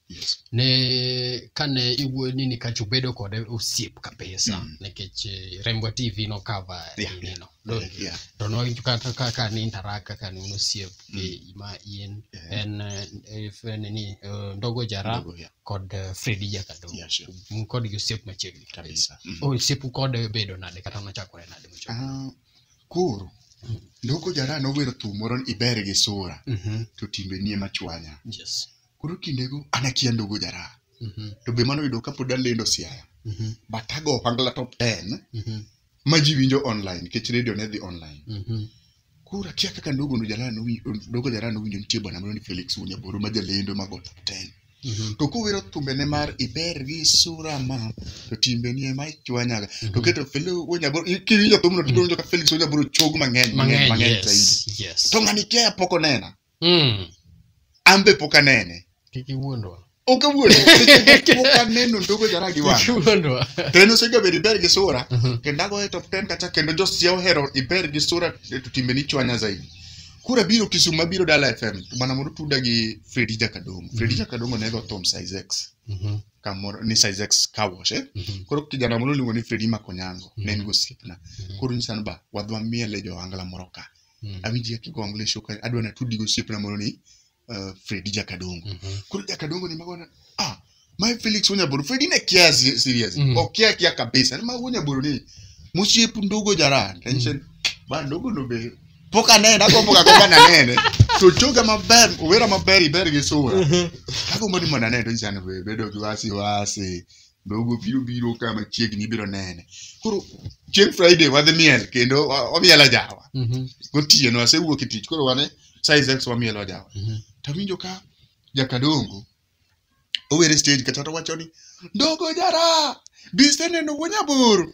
ne kane iwuoyo ni nikech ubedo kode osiep kabisa Mm. nikech eh, rembo tv no cover Yeah, yeah. nino Yeah. to no kata kaka ni interact kaka ni un osiep Mm. eh, ma in Yeah. en eh, eh, f- nini eh, ndogo jara Ndogo, yeah. kod eh, fredi jakado Yeah, sure. un kod gi osiep machiegni kabisa Kabisa. Mm. oh osiepu kode bedo nade kata nochakore nade mochakore Ah, koro ndoko jara nowero thum moro ni iber gi sura Mhm. to timbe nie machwanya yes koro kindego an akia ndogo jara mhm. to be mano yudo kapod alendo siaya mhm. but ago ohangla top 10 mhm. ma ji winjo online nikech radio ne dhi online koro akia kaka ndogo no jara ndogo jara nowinjo nitie bwana moro ni felix wunyaboro ma jalendo mago top 10 Mm-hmm. to kuwiro thumbene mar iber gi sura ma to timbeni ema ichwanyaga to mm-hmm. keto kiwinjo thumno tiwinjo ka felix onyaburo chog mang'eny mang'eny mang'eny zaidi to ng'ani kia pok onena Mm. an be pok anene Kik iwuondwa. ok awuondo seche moko pok aneno ndogo jara gi wang' Kik iwuondwa. to en osegabedo iber gi sura Mhm. kendo agoye top 10 kacha kendo josia ohero iber gi sura e to timbe ni chwanya zaidi kura biro kisumu mabiro dala fm to mana mondo tuda gi fredi jakadongo fredi jakadongo ne go thom size x Mhm. kamoro ni size x kawosh eh? Mhm. koro kijana moro luongo ni fredi makonyango ne en gosiepna Mhm. koro nyisa ni ba wadwa miele jo angla moro ka Mm. awinji kaka igo ng'le shoka adwa natudi gi osiepna moro ni uh, fredi jakadongo Mhm. koro jakadongo ni magona ah mae felix wonyaboro fredi ne kia si- serious Mhm. okia kia kabisa ni ma wonyaboro ni mosiep ndogo jaran tension ba ndogo no be pok anene agombo ga gomba nanene to choga maber owera maber iber gi sura agombo ni mondo anene to nyisani be bedo gi wasi wasi Dhogo biro biro ka machiegni ibiro nene. Koro chieng' Friday wadhi miel kendo wa- wamiel ajawa. Mhm. Gotieno asewuok e tich koro wane size X wamiel ajawa. Mhm. Tawinjo ka jakadongo owere stage kata to wacho ni ndogo jara bise neno wuo nyaboro.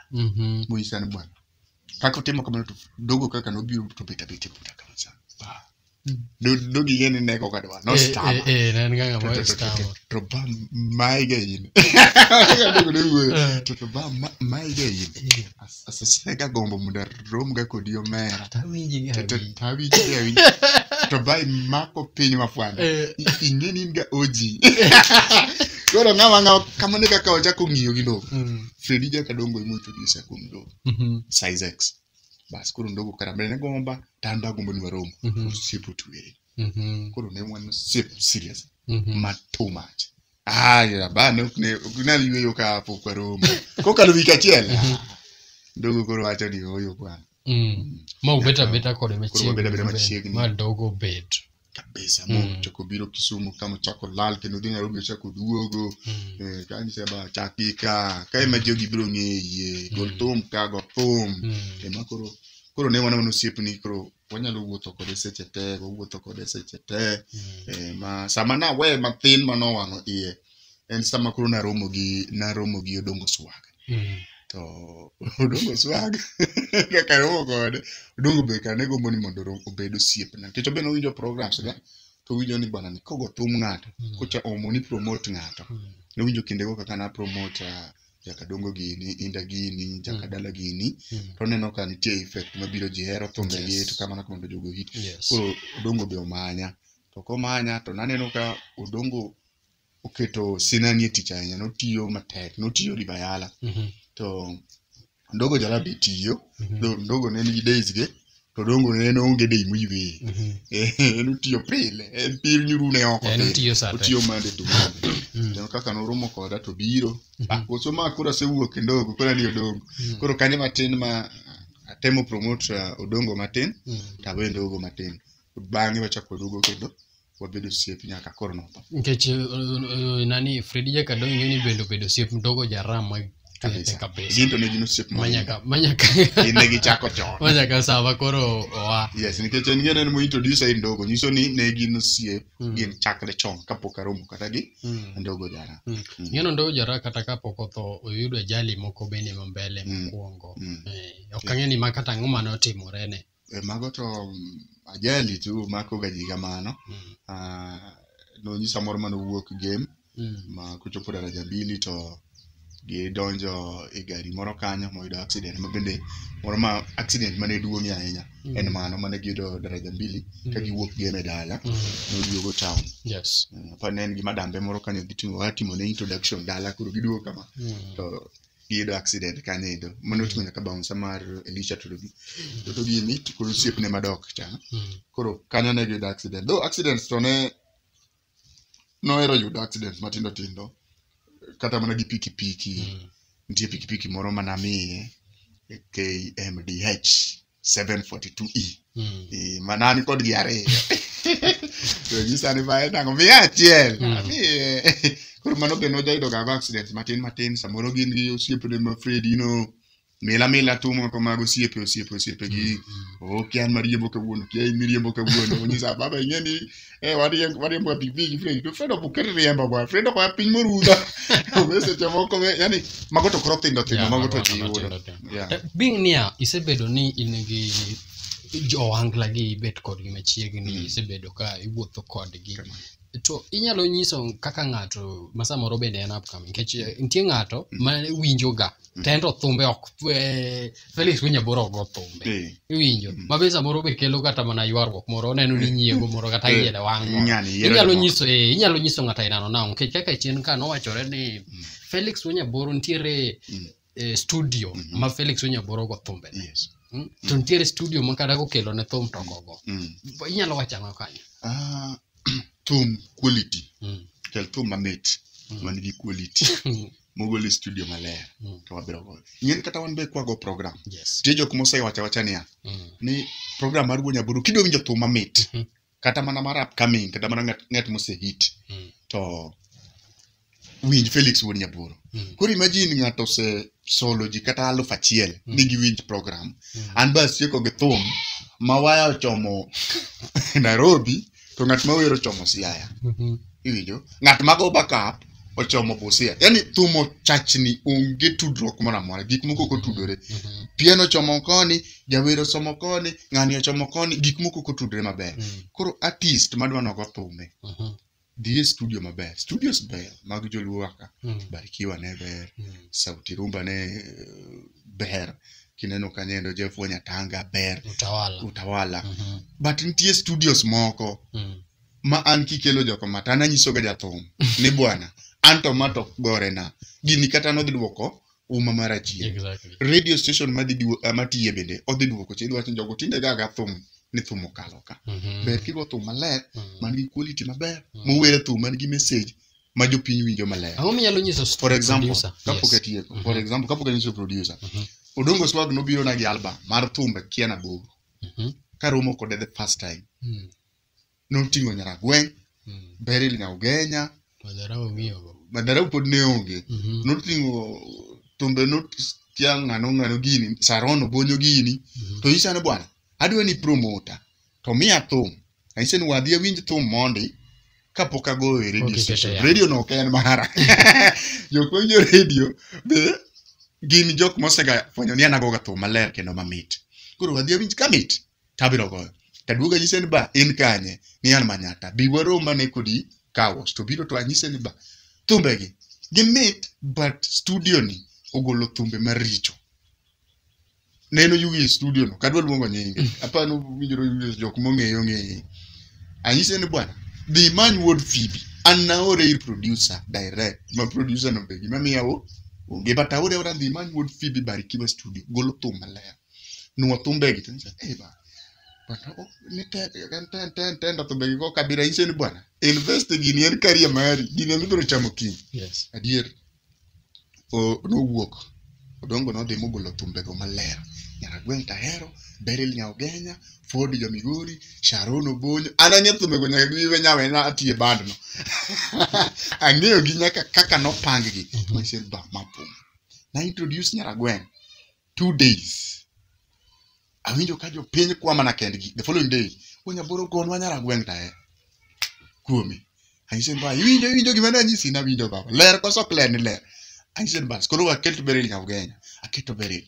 Mhm. Muji sana bwana. Kaka utimo kamano to dogo kaka nobiro to bet abet e puta kama sana. Ba. Mm. Do- Dogi yene neko kadwa. No Eh, stama. eh, eh, na en ga ng'ama To- to- to- stama. to- To ba maige in. Kaka dogo ne wuoyo. Eh. To to ba ma- maige in. Eh, As- Asasine ka gombo muda romga kodi omera To awinji gi To- to- awinji. to awinji gi awinji to ba imako piny mafwanda Eh. I- ing'e ni in ga oji koro ng'ama ng'awa kamano e kaka wachako ng'iyo gi ndogo Mm. fredi jaka dongo emointroduce kuom ndogo Mhm. size x bas koro ndogo karambele ne gomba to an bagombo ni warom Mhm. osiepo tuere Mhm. koro ne wan osiep serious Mhm. ma too much Ah, ya, bana ok ne ok nal yueyo ka hapo kwa Roma. Kokalo wik achiel. ah, Dogo koro wacho ni oyo bwana. Mm. ma ubet abeta kode Koro wabet abeta machiegni. ma dogo bet Kabisa Mm. mo chako biro Kisumu kama chako lal kendo dhi Nairobi chako duogo. Mm. Eh, ka ni seba chaki ka ka ema jogi biro ng'eye. Gol Mm. thum ka go thum. Mm. Ema koro koro ne wana wana osiepni koro wanyalo wuotho kode seche te wawuotho kode seche te eh, ma sama nawe mathin ma nowang'o iye en sama koro naromo gi naromo gi odongo swag Mm. to odongo swag kaka romo kode odongo be kane gombo ni mondo ro- obed osiepna nikech obed owinjo programs ga to owinjo ni bwana ni kogo thum ng'ato Mm. kocha omo ni promote ng'ato Mm. nowinjo kindego kaka na promote ah, jaka dongo gini inda gini jaka Mm. dala gini Mm. to oneno ka nitie effect mabiro ji hero thumbe gi Yes. to kamano kamano jogo hit Yes. koro odongo be omanya to komanya to naneno ka odongo oketo sinani e tich ahinya notiyo matek notiyo ribayala Mhm. to ndogo jala be tiyo Mhm. Ndo- ndogo ne nigi days ge to dongo en onge dei moyweye Mhm. Eh, en otiyo pile en pir nyurune oko En pile. otiyo sa te. otiyo mande to mande Mm. Kendo kaka noromo koda to biro ah, koso ma koro asewuok e ndogo koro ni odongo Mm. koro kane matin ma atemo promote uh, odongo matin Mm. tawe ndogo matin bang'e wachako oduogo kendo wabed osiep nyaka koro notho nikech eh, eh, nani fredi jakadong ing'e ni bende obedo osiep mdogo jaram ma kabisa kabisa gin to ne gin osiep ma manyaka manyaka gin ne gichako chon manyaka sava koro oa yes nikech en ng'ene ni mointroduce ai ndogo nyiso ni ne gin osiep Mm. gin chakre chon kapok aromo kata gi Mm. ndogo jara Mm. Mm. Ng'eno ndogo jara kata kapok otho oyudo ajali moko bende ma mbele Mm. mokwongo Mm. Eh, ok ang'e ni ma kata ang'o mane otimorene E, mago to mm, ajali tu makoga ji kamano Mm. Ah, nonyisa moro mane owuok game Mm. ma kochopo daraja bili to gidonjo e gari moro kanyo moyudo accident ma bende moro ma accident mane duong'ie ahinya Mm. en mano mane giyudo daraja mbili ka Mm. giwuok game e dala Mm. noduogo town Yes. Eh, apani ne en gi madambe moro kanyo gitimo watimo ne introduction dala koro giduogo kama Mm. to giyudo accident kanyo endo mane oting'o nyaka baunsa mar elisha torogi toto gini to kod osiepne madok cha Mm. koro kanyo ne giyudo accident though accidents to ne nohero yudo accidents matindo tindo kata mana gi pikipiki Mm. nitie pikipiki moro manamiye kmdh 742e Mm. Eh, mana an kod gi ariyo to nyisa ni bae nango miya achiel Mm. Ami, eh, koro mano be nojayudo gago accident matin matin samoro gin gi osiepene ma Fred ino mila mila tu moko mag osiepe osiepe osiepe gi okia an mariembo kawuono kia in miriembo kawuono onyisa baba ing'e ni Eh, wariemb- wariembo ga pikipiki fredi to fredi ok ket riemba bwana fredi ok oya piny morudha obe seche moko be yani mago to koro thindo thindo Yeah, mago to mago- ji mago yudo tindo tindo. Yeah. Eh, being niya isebedo ni in gi johangla gi ibet kodgi machiegni Mm. isebedo ka iwuotho kodgi Kama. to inyalo nyiso kaka ng'ato ma samoro bende en upcoming nikech eh, nitie ng'ato ma winjoga Mm. tendo thumbe ok eh, Felix winya boro ogo thumbe. Eh, Iwinjo. Mm. Ma be samoro be kelo kata mana ywaruok moro oneno ni nyiego moro kata Eh, yiede wang' moro. ng'ani yiero Inyalo jomoko. nyiso eh, inyalo nyiso ng'ato ainano nang'o nikech kaka chien ka nowachore ni Mm. Felix Wanyaboro nitiere Mm. eh, studio Mhm. ma Felix Wanyaboro go thumbe. Yes. Mm? To nitiere studio ma kata kokelo ne thum to gogo. Mm. Inyalo wacho ang'o kanyo? Ah, thum quality. Mm. Kel thum mamit. Mm. Man gi quality. mogol e studio maler Mm. to wabiro goyo ing'eni kata wan be kwago program Yes. nitie jok mosewacha wacha niya Mm. ni program mar wuo nyaburu kidwa winjo thum mamit Mhm. kata mana mar upcoming kata mana ng'at- ng'at mosehit Mm. to winj felix wuon nyaburu Mm. koro imagine ng'ato ose solo ji kata aluf achiel Mm. ni giwinj program Mm. an bas tieko gi thum ma waya ochomo nairobi to ng'at ma wer ochomo siaya Mhm. iwinjo ng'at ma go backup ochomo busia yani thum ochachni onge tudruok moro amora gik moko ok otudore Mhm. pien ochomo koni jawer osomo koni ng'ani ochomo koni gik moko ok otudore maber Mhm. koro artist madwa nogo thume Mhm. dhi e studio maber studios ber mag joluo waka Mhm. barikiwa ne ber Mhm. sauti rumba ne eh, ber kineno kanyendo jeff wanyatanga ber Utawala. utawala Mhm. but nitie studios moko Mm. ma an kikelo joko mata an anyisoga jathum ni bwana an to ma to gorena gini kata nodhi dwoko uma mar achien Exactly. radio station madhi duo- ah, matiye bende odhi dwoko chidhi wacho ni jogo tinde gaga thum ni thum okalo ka Mhm. ber kigo thum maler Mm. man gi quality maber Mm. mowere thum man gi message ma jopiny winjo maler Ang'o minyalo nyiso for example producer? kapok Yes. atieko Mhm. for example kapok anyiso producer Mhm. odongo swag nobiro na gi album mar thumbe kia na gogo Mhm. karomo kode the first time Mm. noting'o nyaragweng' Mm. beril nyaugenya Madharau ong'iyogo. madarau pod ne onge Mhm. noting'o thumbe notia ng'ano ng'ano gini saron obonyo gini Mhm. to isane bwana adwa ni promota to miya thum Anyise ni wadhi awinj thum mondi kapok agoyo e radio Pok iketo station. yamo. Radio no ok en mara. Jok mawinjo radio be gin jok mosega fwenyo ni an agoga thum maler kendo mamit. Koro wadhi awinj kamit tabiro goyo. Taduogo anyise ni ba in kanye ni an manyata. Bi waroma ne kodi kawas to biro to anyise ni ba thumbegi gimit but studio ni ogolo thumbe maricho. neno yugi e studio no kadwa luongo nyinge aparo ni winjore yugi jok mong'eyo ng'eye anyise ni bwana dhi imany wuod fibi an naore ir producer direct ma producer no be gima miya o onge but aore ora dhi imany wuod fibi barikiwa studio golo thum maler nuo thumbegi to nyisa eh ba bwana o ni te en te en te en te ndo thumbegi go kabira anyise ni bwana invest e gini en career mari gini emibiro chamo kiny Yes. adier nowuok Odongo nodhi mogolo thumbego maler. Nyaragweng' Tahero, Beryl Nyaogenya, Ford jo Migori, Sharon Obonyo. An ang'e thumbego nyaka giwe nyawena atiye bandno. ang'eyo gi nyaka kaka nopang gi. Myself ba mapum. Na introduce Nyaragweng' two days awinjo ka jopiny kwa mana kendgi the following day onyaboro gonwa nyara gweng' tae kuome anyise ni ba iwinjo iwinjo gima ne anyisi na winjo baba ler koso ok ler ni ler anyise ni bas koro waketo beril nyaka ugenya aketo beril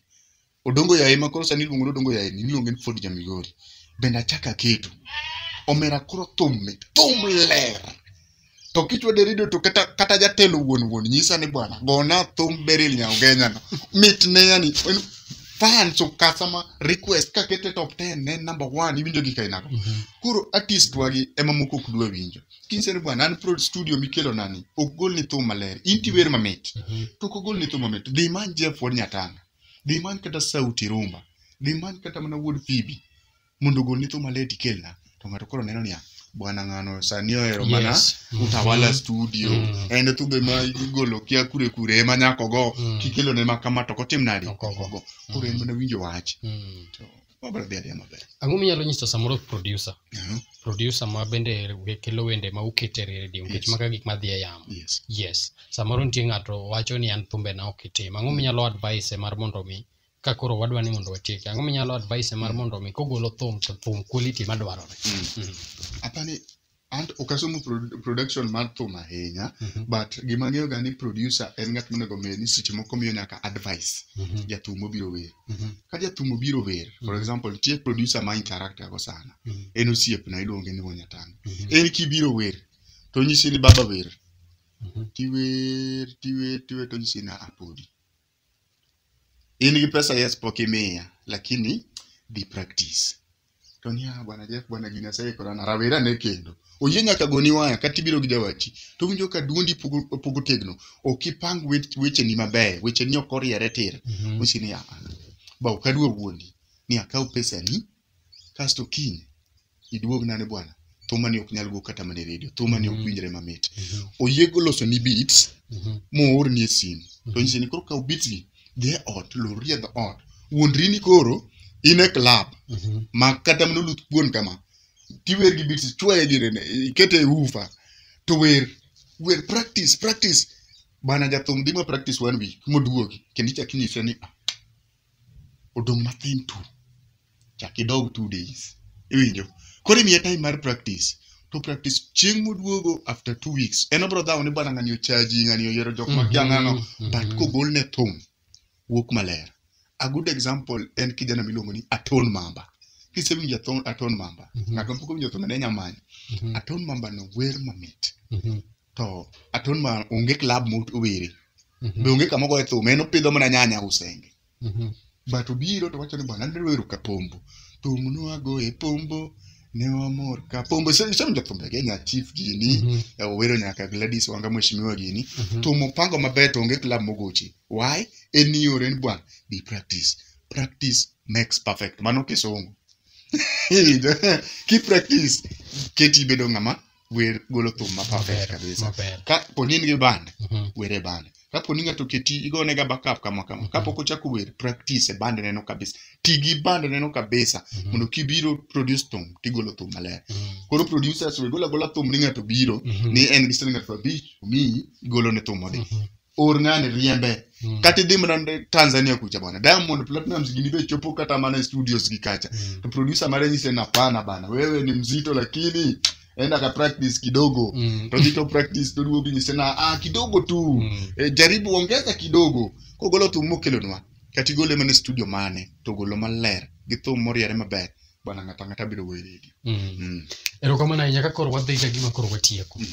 odongo yaye ma koro sani iluongo ni odongo yaye ni iluonge ni ford jamigori bende achako aketo omera koro thum mit thum ler to kichwa derido to kata kata jatelo wuon wuon nyisa ni bwana gona thum beril nyaogenya no mit ne yani en- fans of customer request ka kete top 10 ne number 1 iwinjo gi kainago koro artist wagi ema moko ok dwa winjo kinse ni bwana an pro studio mikelo nani ok gol ni thum maler in tiwer mamit to ok ogol ni thum mamit dhi man jeff wod nyatanga dhi man kata sauti rumba dhi man kata mana wuod fibi mondo ogol nitho malet ikelna to ng'ato koro neno niya bwana ng'ano sani ohero mana Yes. Mhm. utawala studio Mm. en thumbe ma igolo kia kure kure ema nyako go Mm. kikelo ne makama to kotim nadi Ok ogo. Ogo. koro en mana winjo wach Mm. to wabro dhi adhiya maber ang'o minyalo nyiso samoro producer Mhm. producer ma bende we- kelo wende ma ukete redio nikech Yes. maka gik madhi e yamo yes yes samoro nitie ng'ato wacho ni an thumbena ok itim ang'o minyalo advice mar mondo mi ka koro wadwa ni mondo watieki ang'o minyalo advice mar mondo mi kogolo thum to thum quality madwarore Mhm. apani an ok asomo pro- production mar thum ahinya Mhm. but gima ang'eyo ga ni producer en ng'at monego ng'e ni seche moko miyo nyaka advice Mhm. jathum obiro wer Mhm. ka jathum obiro wer for example nitie producer ma interacta go sana Mhm. en osiepna iluonge ni wanyatanga Mhm. en kibiro wer to nyisi ni baba wer Mhm. tiwer tiwer tiwer to nyisi ni apodi in gi pesa yes pok imiya lakini dhi practice to niya bwana Jeff bwana gini aseikora na rawera ne kendo oyie nyaka goni waya kata ibiro gi jawachi to winjo ka duondi pogo pogo tegno ok ipang wech- wecheni mabeyo wecheni ok oriere tir Mhm. usi niya ba ok adwa wuondi ni akaw pesani kasto kiny iduogna ne bwana thumani ok nyal go kata mana e redio thumani ok Mhm. winjre mamit Mhm. oyiego loso ni beats Mhm. moorni e simu to nyise ni koro kaw beats gi dhi e ot lorri e dho ot wuondri ni koro in e club Mhm. ma kata mana oluth kuon kama tiwer gi beats chwaye gi rene ikete e ufa to wer wer practice practice bana jathum dhi ma practice one week moduogi kendo ichak inyise ni "Ah, odong' mathin tu chak idog two days iwinjo koro imiye time mar practice to practice chieng' moduogo after two weeks en obro dhawo ni bwana ng'ani ochaji ng'ani oyiero jok ma kia ng'ano but kogol ne thum wuok maler a good example en kijana miluongo ni aton mamba kisewinjo aton, aton mamba ng'ato mapok owinjo thum ne nyamanyo aton mamba no wer mamit to aton ma onge club mowere Mhm. be onge kama ogoye thum en opidho mana nyanya usenge Mhm. but obiro to wacho ni bwana ne wero ka pombo thum nwagoye pombo ne wamor ka pombo isewinjo thumbe ge nya chief gini Mhm. eh, owero nyaka gladys wanga mheshimiwa gini Mhm. thum opango maber to onge club mogoche why en ni ore ni bwana be practice practice makes perfect mano kisungu ki practice keti ibedo ng'ama wer golo thum ma perfect Maber, kabisa maber. ka poni in gi band Mhm. were band ka poni ng'ato keti igone ga backup kama kama Mhm. kapok ochako wer practice e band neno kabisa ti gi band neno kabisa Mhm. mondo kibiro produce thum tigolo thum maler Mhm. koro producers we gola gola thum ni ng'ato biro Mhm. ni en gi siling' aluf abich omiyi igolo ne thum odhi Mhm. or ng'ani riembe Mm. kata idhi mana ne tanzania kucha bwana diamond platinums gini be chopo kata mana e studios gi kacha Mm. to producer mare nyise na pana bana wewe ni mzito lakini enda ka practice kidogo Mm. todhi to practice toduogo nyise na ah, kidogo tu Mm. e, jaribu ongeza kidogo kogolo thum mokelonwa kata igole mana e studio mane to golo maler gi thum moriere maber bana ng'ato ang'ata biro goyo redio Mm. Mm. erokamano ahinya ka koro wadhi ka gima koro watieko Mm.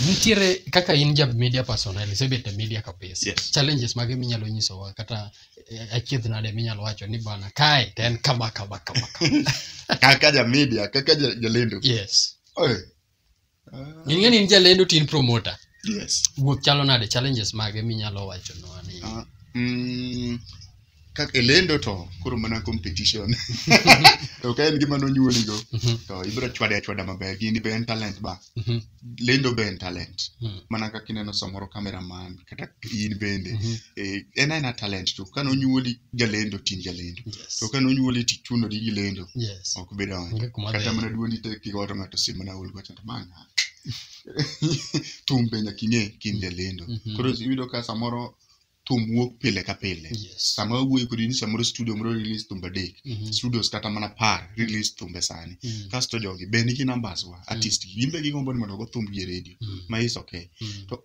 nitiere kaka in ja media personnel isebet e media kabisa Yes. challenges mage minyalo nyisowa kata eh, achiedh nade minyalo wacho ni bana kae to en kama kama kama kama kaka ja media kaka ja- jalendo yes Oe, Ng'e ni in jalendo to in promoter. Yes. Wuoth chalo nade challenges mage minyalo wacho no ani. Ah, mm, kaka e lendo to koro mana competition. To ka en gima nonyuoligo Mhm, to ibiro chwade achwada maber. Gini be en talent ba. mhm, Lendo be en talent. mhm, Mana kaka ineno samoro cameraman kata in bende. mhm. Eh, en aena talent to ka nonyuoli jalendo tin jalendo Yes. to ka nonyuoli ti chuno di gilendo Yes. ok bi donjo Onge kuma kata dheno. mana duondi tek kiwato ng'ato sim mana ol gocha manga thumbe nyaka ing'e kind jalendo Mhm. koro iyudo ka samoro thum wuok pile ka pile Yes. sama wawuoyo kodi ni samoro studio moro release thumbe adek Mhm. studios kata mana par release thumbe sani Mm. kasto jogi be nigi numbers wa artist gi gimbe gigombo ni mondo ogo thumb gi e radio Mm. ma is okay Mm. to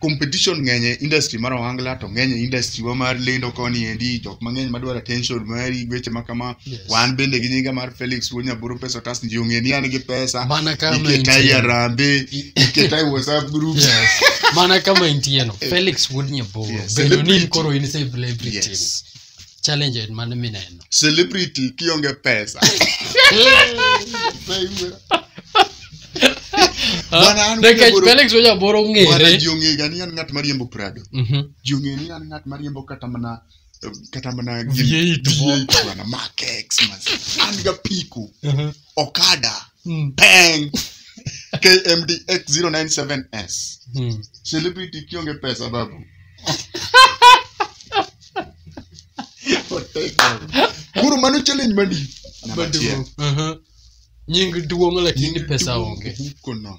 competition ng'eny e industry mar ohangla to ng'eny e industry wa mar lendo koni endi jok mang'eny madwaro attention mari weche ma kama Yes. wan bende gi nyinga mar Felix Wonyaburu pesa tas ndio ng'e ni an gi pesa Mana kama iketa intie. yarambe iketa e WhatsApp group Yes. Mana kama intieno. Felix Wood Nyaboro. Yes. Bedo ni Celebrity. koro in celebrity. Yes. challenge mane mineno celebrity kionge pesa Bwana, an nikech wuod Aboro- felix oja boro Bwana, ng'ere ji ong'ega ni an ng'at mariembo prado Mhm. ji ong'e ni an ng'at mariembo kata mana kata mana gin- V8 V8 bwana, Mark X, mas- an ga piko Mhm. okada Mm. peng kmdx 097s Mm. celebrity kionge pesa babu Otek babu. koro mano challenge madi Namba achiel. Aha. nying duong lakini pesa onge Huko nono.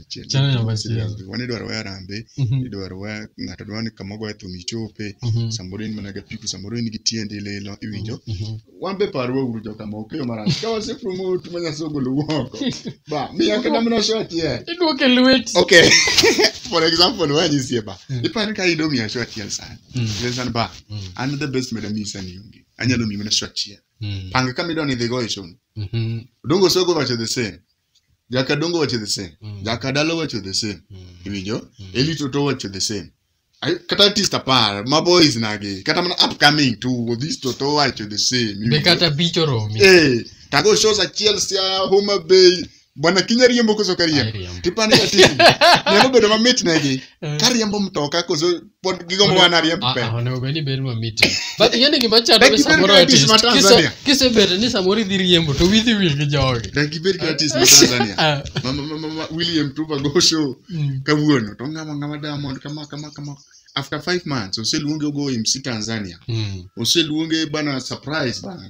achiel Channel namba Mbusi achiel. Liambe. wan idwaro wa arambe Mhm. idwaro wa ng'ato dwaro ni kama ogoye thum ichope Mhm. samoro in mana gi apiko samoro in gi tiendi lilo iwinjo Mhm. wan be parwa uru jokama okeyo marach ka wase promote ma nyasaye ogolo woko ba miya kata mana show achiel Idwoke lwet. okay for example wanyisiye ba Mm. ipani ka ido miya show achiel sani Mm. Then sani ba Mm. an the best meda miyi sani onge anyalo miyi mana show achiel Mm. panga kama idwa ni idhigo e show Mhm. dongo sogo wacho the same jakadongo wacho the same Mm. jakadala wacho the same Mm. iwinjo Mm. elito to wacho the same Ay- kata artist apar ma boys nagi kata mana upcoming to this to to wacho the same be iwinjo? kata bich oromi Eh, tago shows achiel sia homa bay bwana kinya riembo koso kariembo Ariambo. tipani kati nyalo bedo mamit negi Eh, kariembo mtoka koso pod gigombo mana riembo Ah, pesa ah, onego bed ni ber ma miti but ing'e ni gima chando Dak ni ibed samoro gratis artist ma kise- Tanzania. kisebedo ni samoro idhi riembo to withi wil gi jogi dak ibed ka artist ma tanzania Ah, Ma- ma- ma- ma- ma- william tuba go show mm. kawuono to ng'ama ng'ama diamond kama kama kama after five months oseluonge ogo mc tanzania Mm. oseluonge bana surprise bana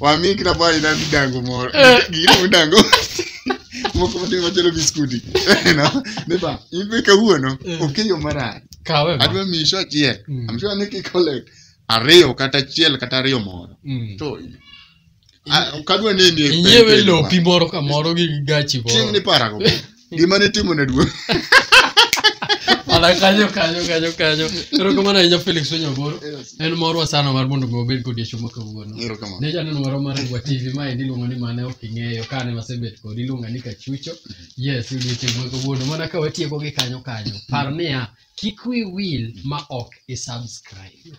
wami kila paa ina midango moro gino midango moko matin machalo biskuti No, nipa ibe kawuono Eh. okeyo marach Kawe ma. adwa miyi sho achiel Mm. I'm sure ni kikole ariyo kata achiel kata ariyo moro Mm. to ah, kadwa nini Inyiewe lopi moro kamoro gi gachi moro. chieng' ni parago gima nitimo ne duong' Ala kanyo kanyo kanyo kanyo. Erokamano ahinya Felix Onyaboro. En morwa sana mar mondo mi wabed kodi e chuma kawuono. Erokamano. Ne janeno marwa mar Ngwa TV ma en iluongo ni mane ok ing'eyo kane wasebet kodi iluonga ni Kachucho. Yes, odiechieng' ma kawuono mana ka watieko gi kanyo kanyo. Par niya, kik wi wil ma ok i subscribe.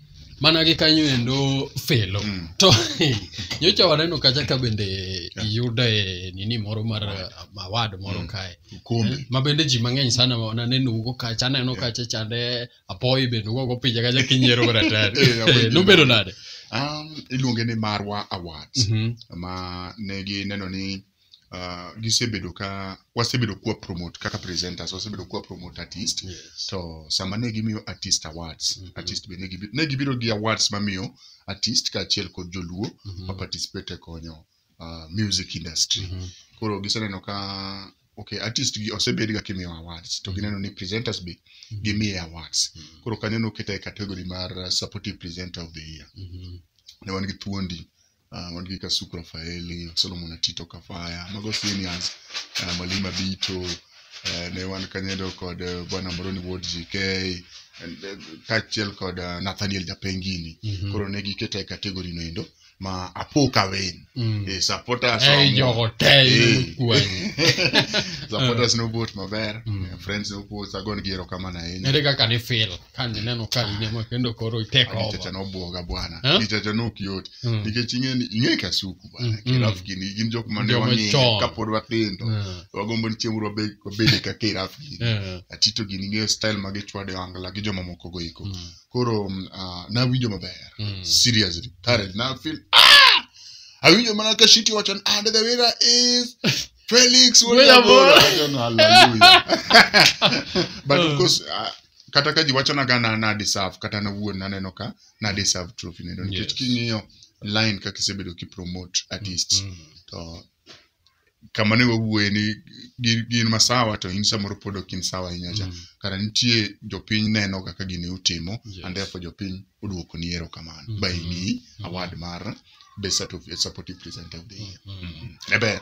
mana gi kanyo endo felo Mm. to nyocha waneno kacha ka bende iyudo e nini moro mar mawad moro Mm. kae Ukombe. ma bende ji mang'eny sana ma wananeno ugo kacha aneno kacha chande apoyi bende ugo go pinje kacha kinyiero Eh, ratari apoyi nobedo nade Um, iluonge ni Marwa Awards Mhm. ma ne gineno ni uh, gisebedo ka wasebedo kwa promote kaka presenters wasebedo kwa promote artist Yes. to sama ne gimiyo artist awards Mhm. artist be ne gibi- ne gibiro gi awards mamiyo artist kaachiel kod joluo Mhm. ma participate e konyo uh, music industry Mhm. koro giseneno ka okay artist gi osebed ga kimiyo awards to gineno ni presenters be gimiye awards Mhm. koro kanyo noketa e category mar uh, supportive presenter of the year Mhm. ne wan gi thuondi ah, wan gi Kasuku Rafaeli, Solomon Atito Kafaya, mago seniors, ah, Mwalimu Abito, eh, ne wan kanyedo kod eh, Bwana Moroni Ward GK, and, eh, kaachiel kod ah, Nathaniel Japengini. Mhm. Koro ne giketa e category no endo ma apo ka wen. Mm. Eh, supporters Ei, omo. jogo te Eh. yudo kwanyi. supporters no vote maber Mm. eh, friends no vote agon gi erokamano ahinya Ere kaka ni feel? kane neno ka rinema kendo koro iteko Nichacha nobwoga bwana. Eh? Nichacha nok yot. Mm. Nikech ing'e ni ing'e kasuku bwana. Mm, mm. Kiraf gini gin jok mane Joma wang'eyo chon. kapod wathindo. Mm. Wagombo ni chieng' moro wabed wabed ka kiraf gini. Eh, Atito gini ing'eyo style ma gichwade wangla gi joma moko go iko. mm, Koro mm, ah, nawinjo maber. mm. Seriously. Courage. Now I feel ah! Awinjo mana ka shiti wacho ni and the winner is Felix Wayabora. Wayabora. Wacho ni, Hallelujah. But of course ah, kata ka ji wachona ga na na deserve kata an awuon naneno ka na deserve trophy neno nikech Yes. king'iyo line kaka isebedo kipromote artists Mm. to kama ne wawuoye ni gin, gin masawa to in samoro pod ok in sawa ahinya cha Mm. kara nitie jopiny neno kaka gini utimo Yes. and therefore jopiny oduoko ni erokamano Mhm. by ni award mar best Sat- supportive presenter of the year Mm. ne ber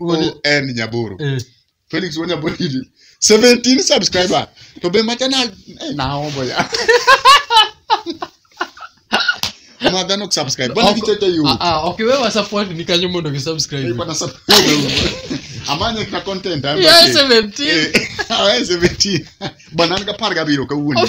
won nyaboro Eh. felix won nyaboro idi 17 subscriber to be macha na eh, naombo ya ma dhano subscribe bwana Oko- kichete yu Ah, ah, okay, wewe wasupport ni kanyo mondo kisubscribe. bwana subscribe amanye ka content I'm Yeah, okay. 17. Eh, ah, 17 bwana nika par gabiro kawuono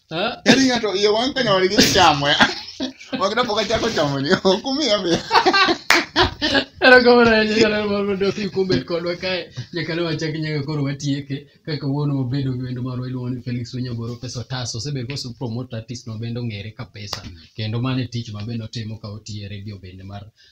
Eh? Yaani ng'ato iye wang' ka nyawadgi chamo ya. Ok napok achako chamo ni. Ok umiya be. Erokamano ahinya nyalero mar mondo ofi kubet kodwa kae nyaka ne wachak nyaka koro watieke ka kawuono wabedo gi wendo marwa iluongo ni Felix Onyaboro pesa otas osebedo kose promote artist no bende ong'ere ka pesa kendo mano e tich ma bende otimo ka otiyo e redio bende mar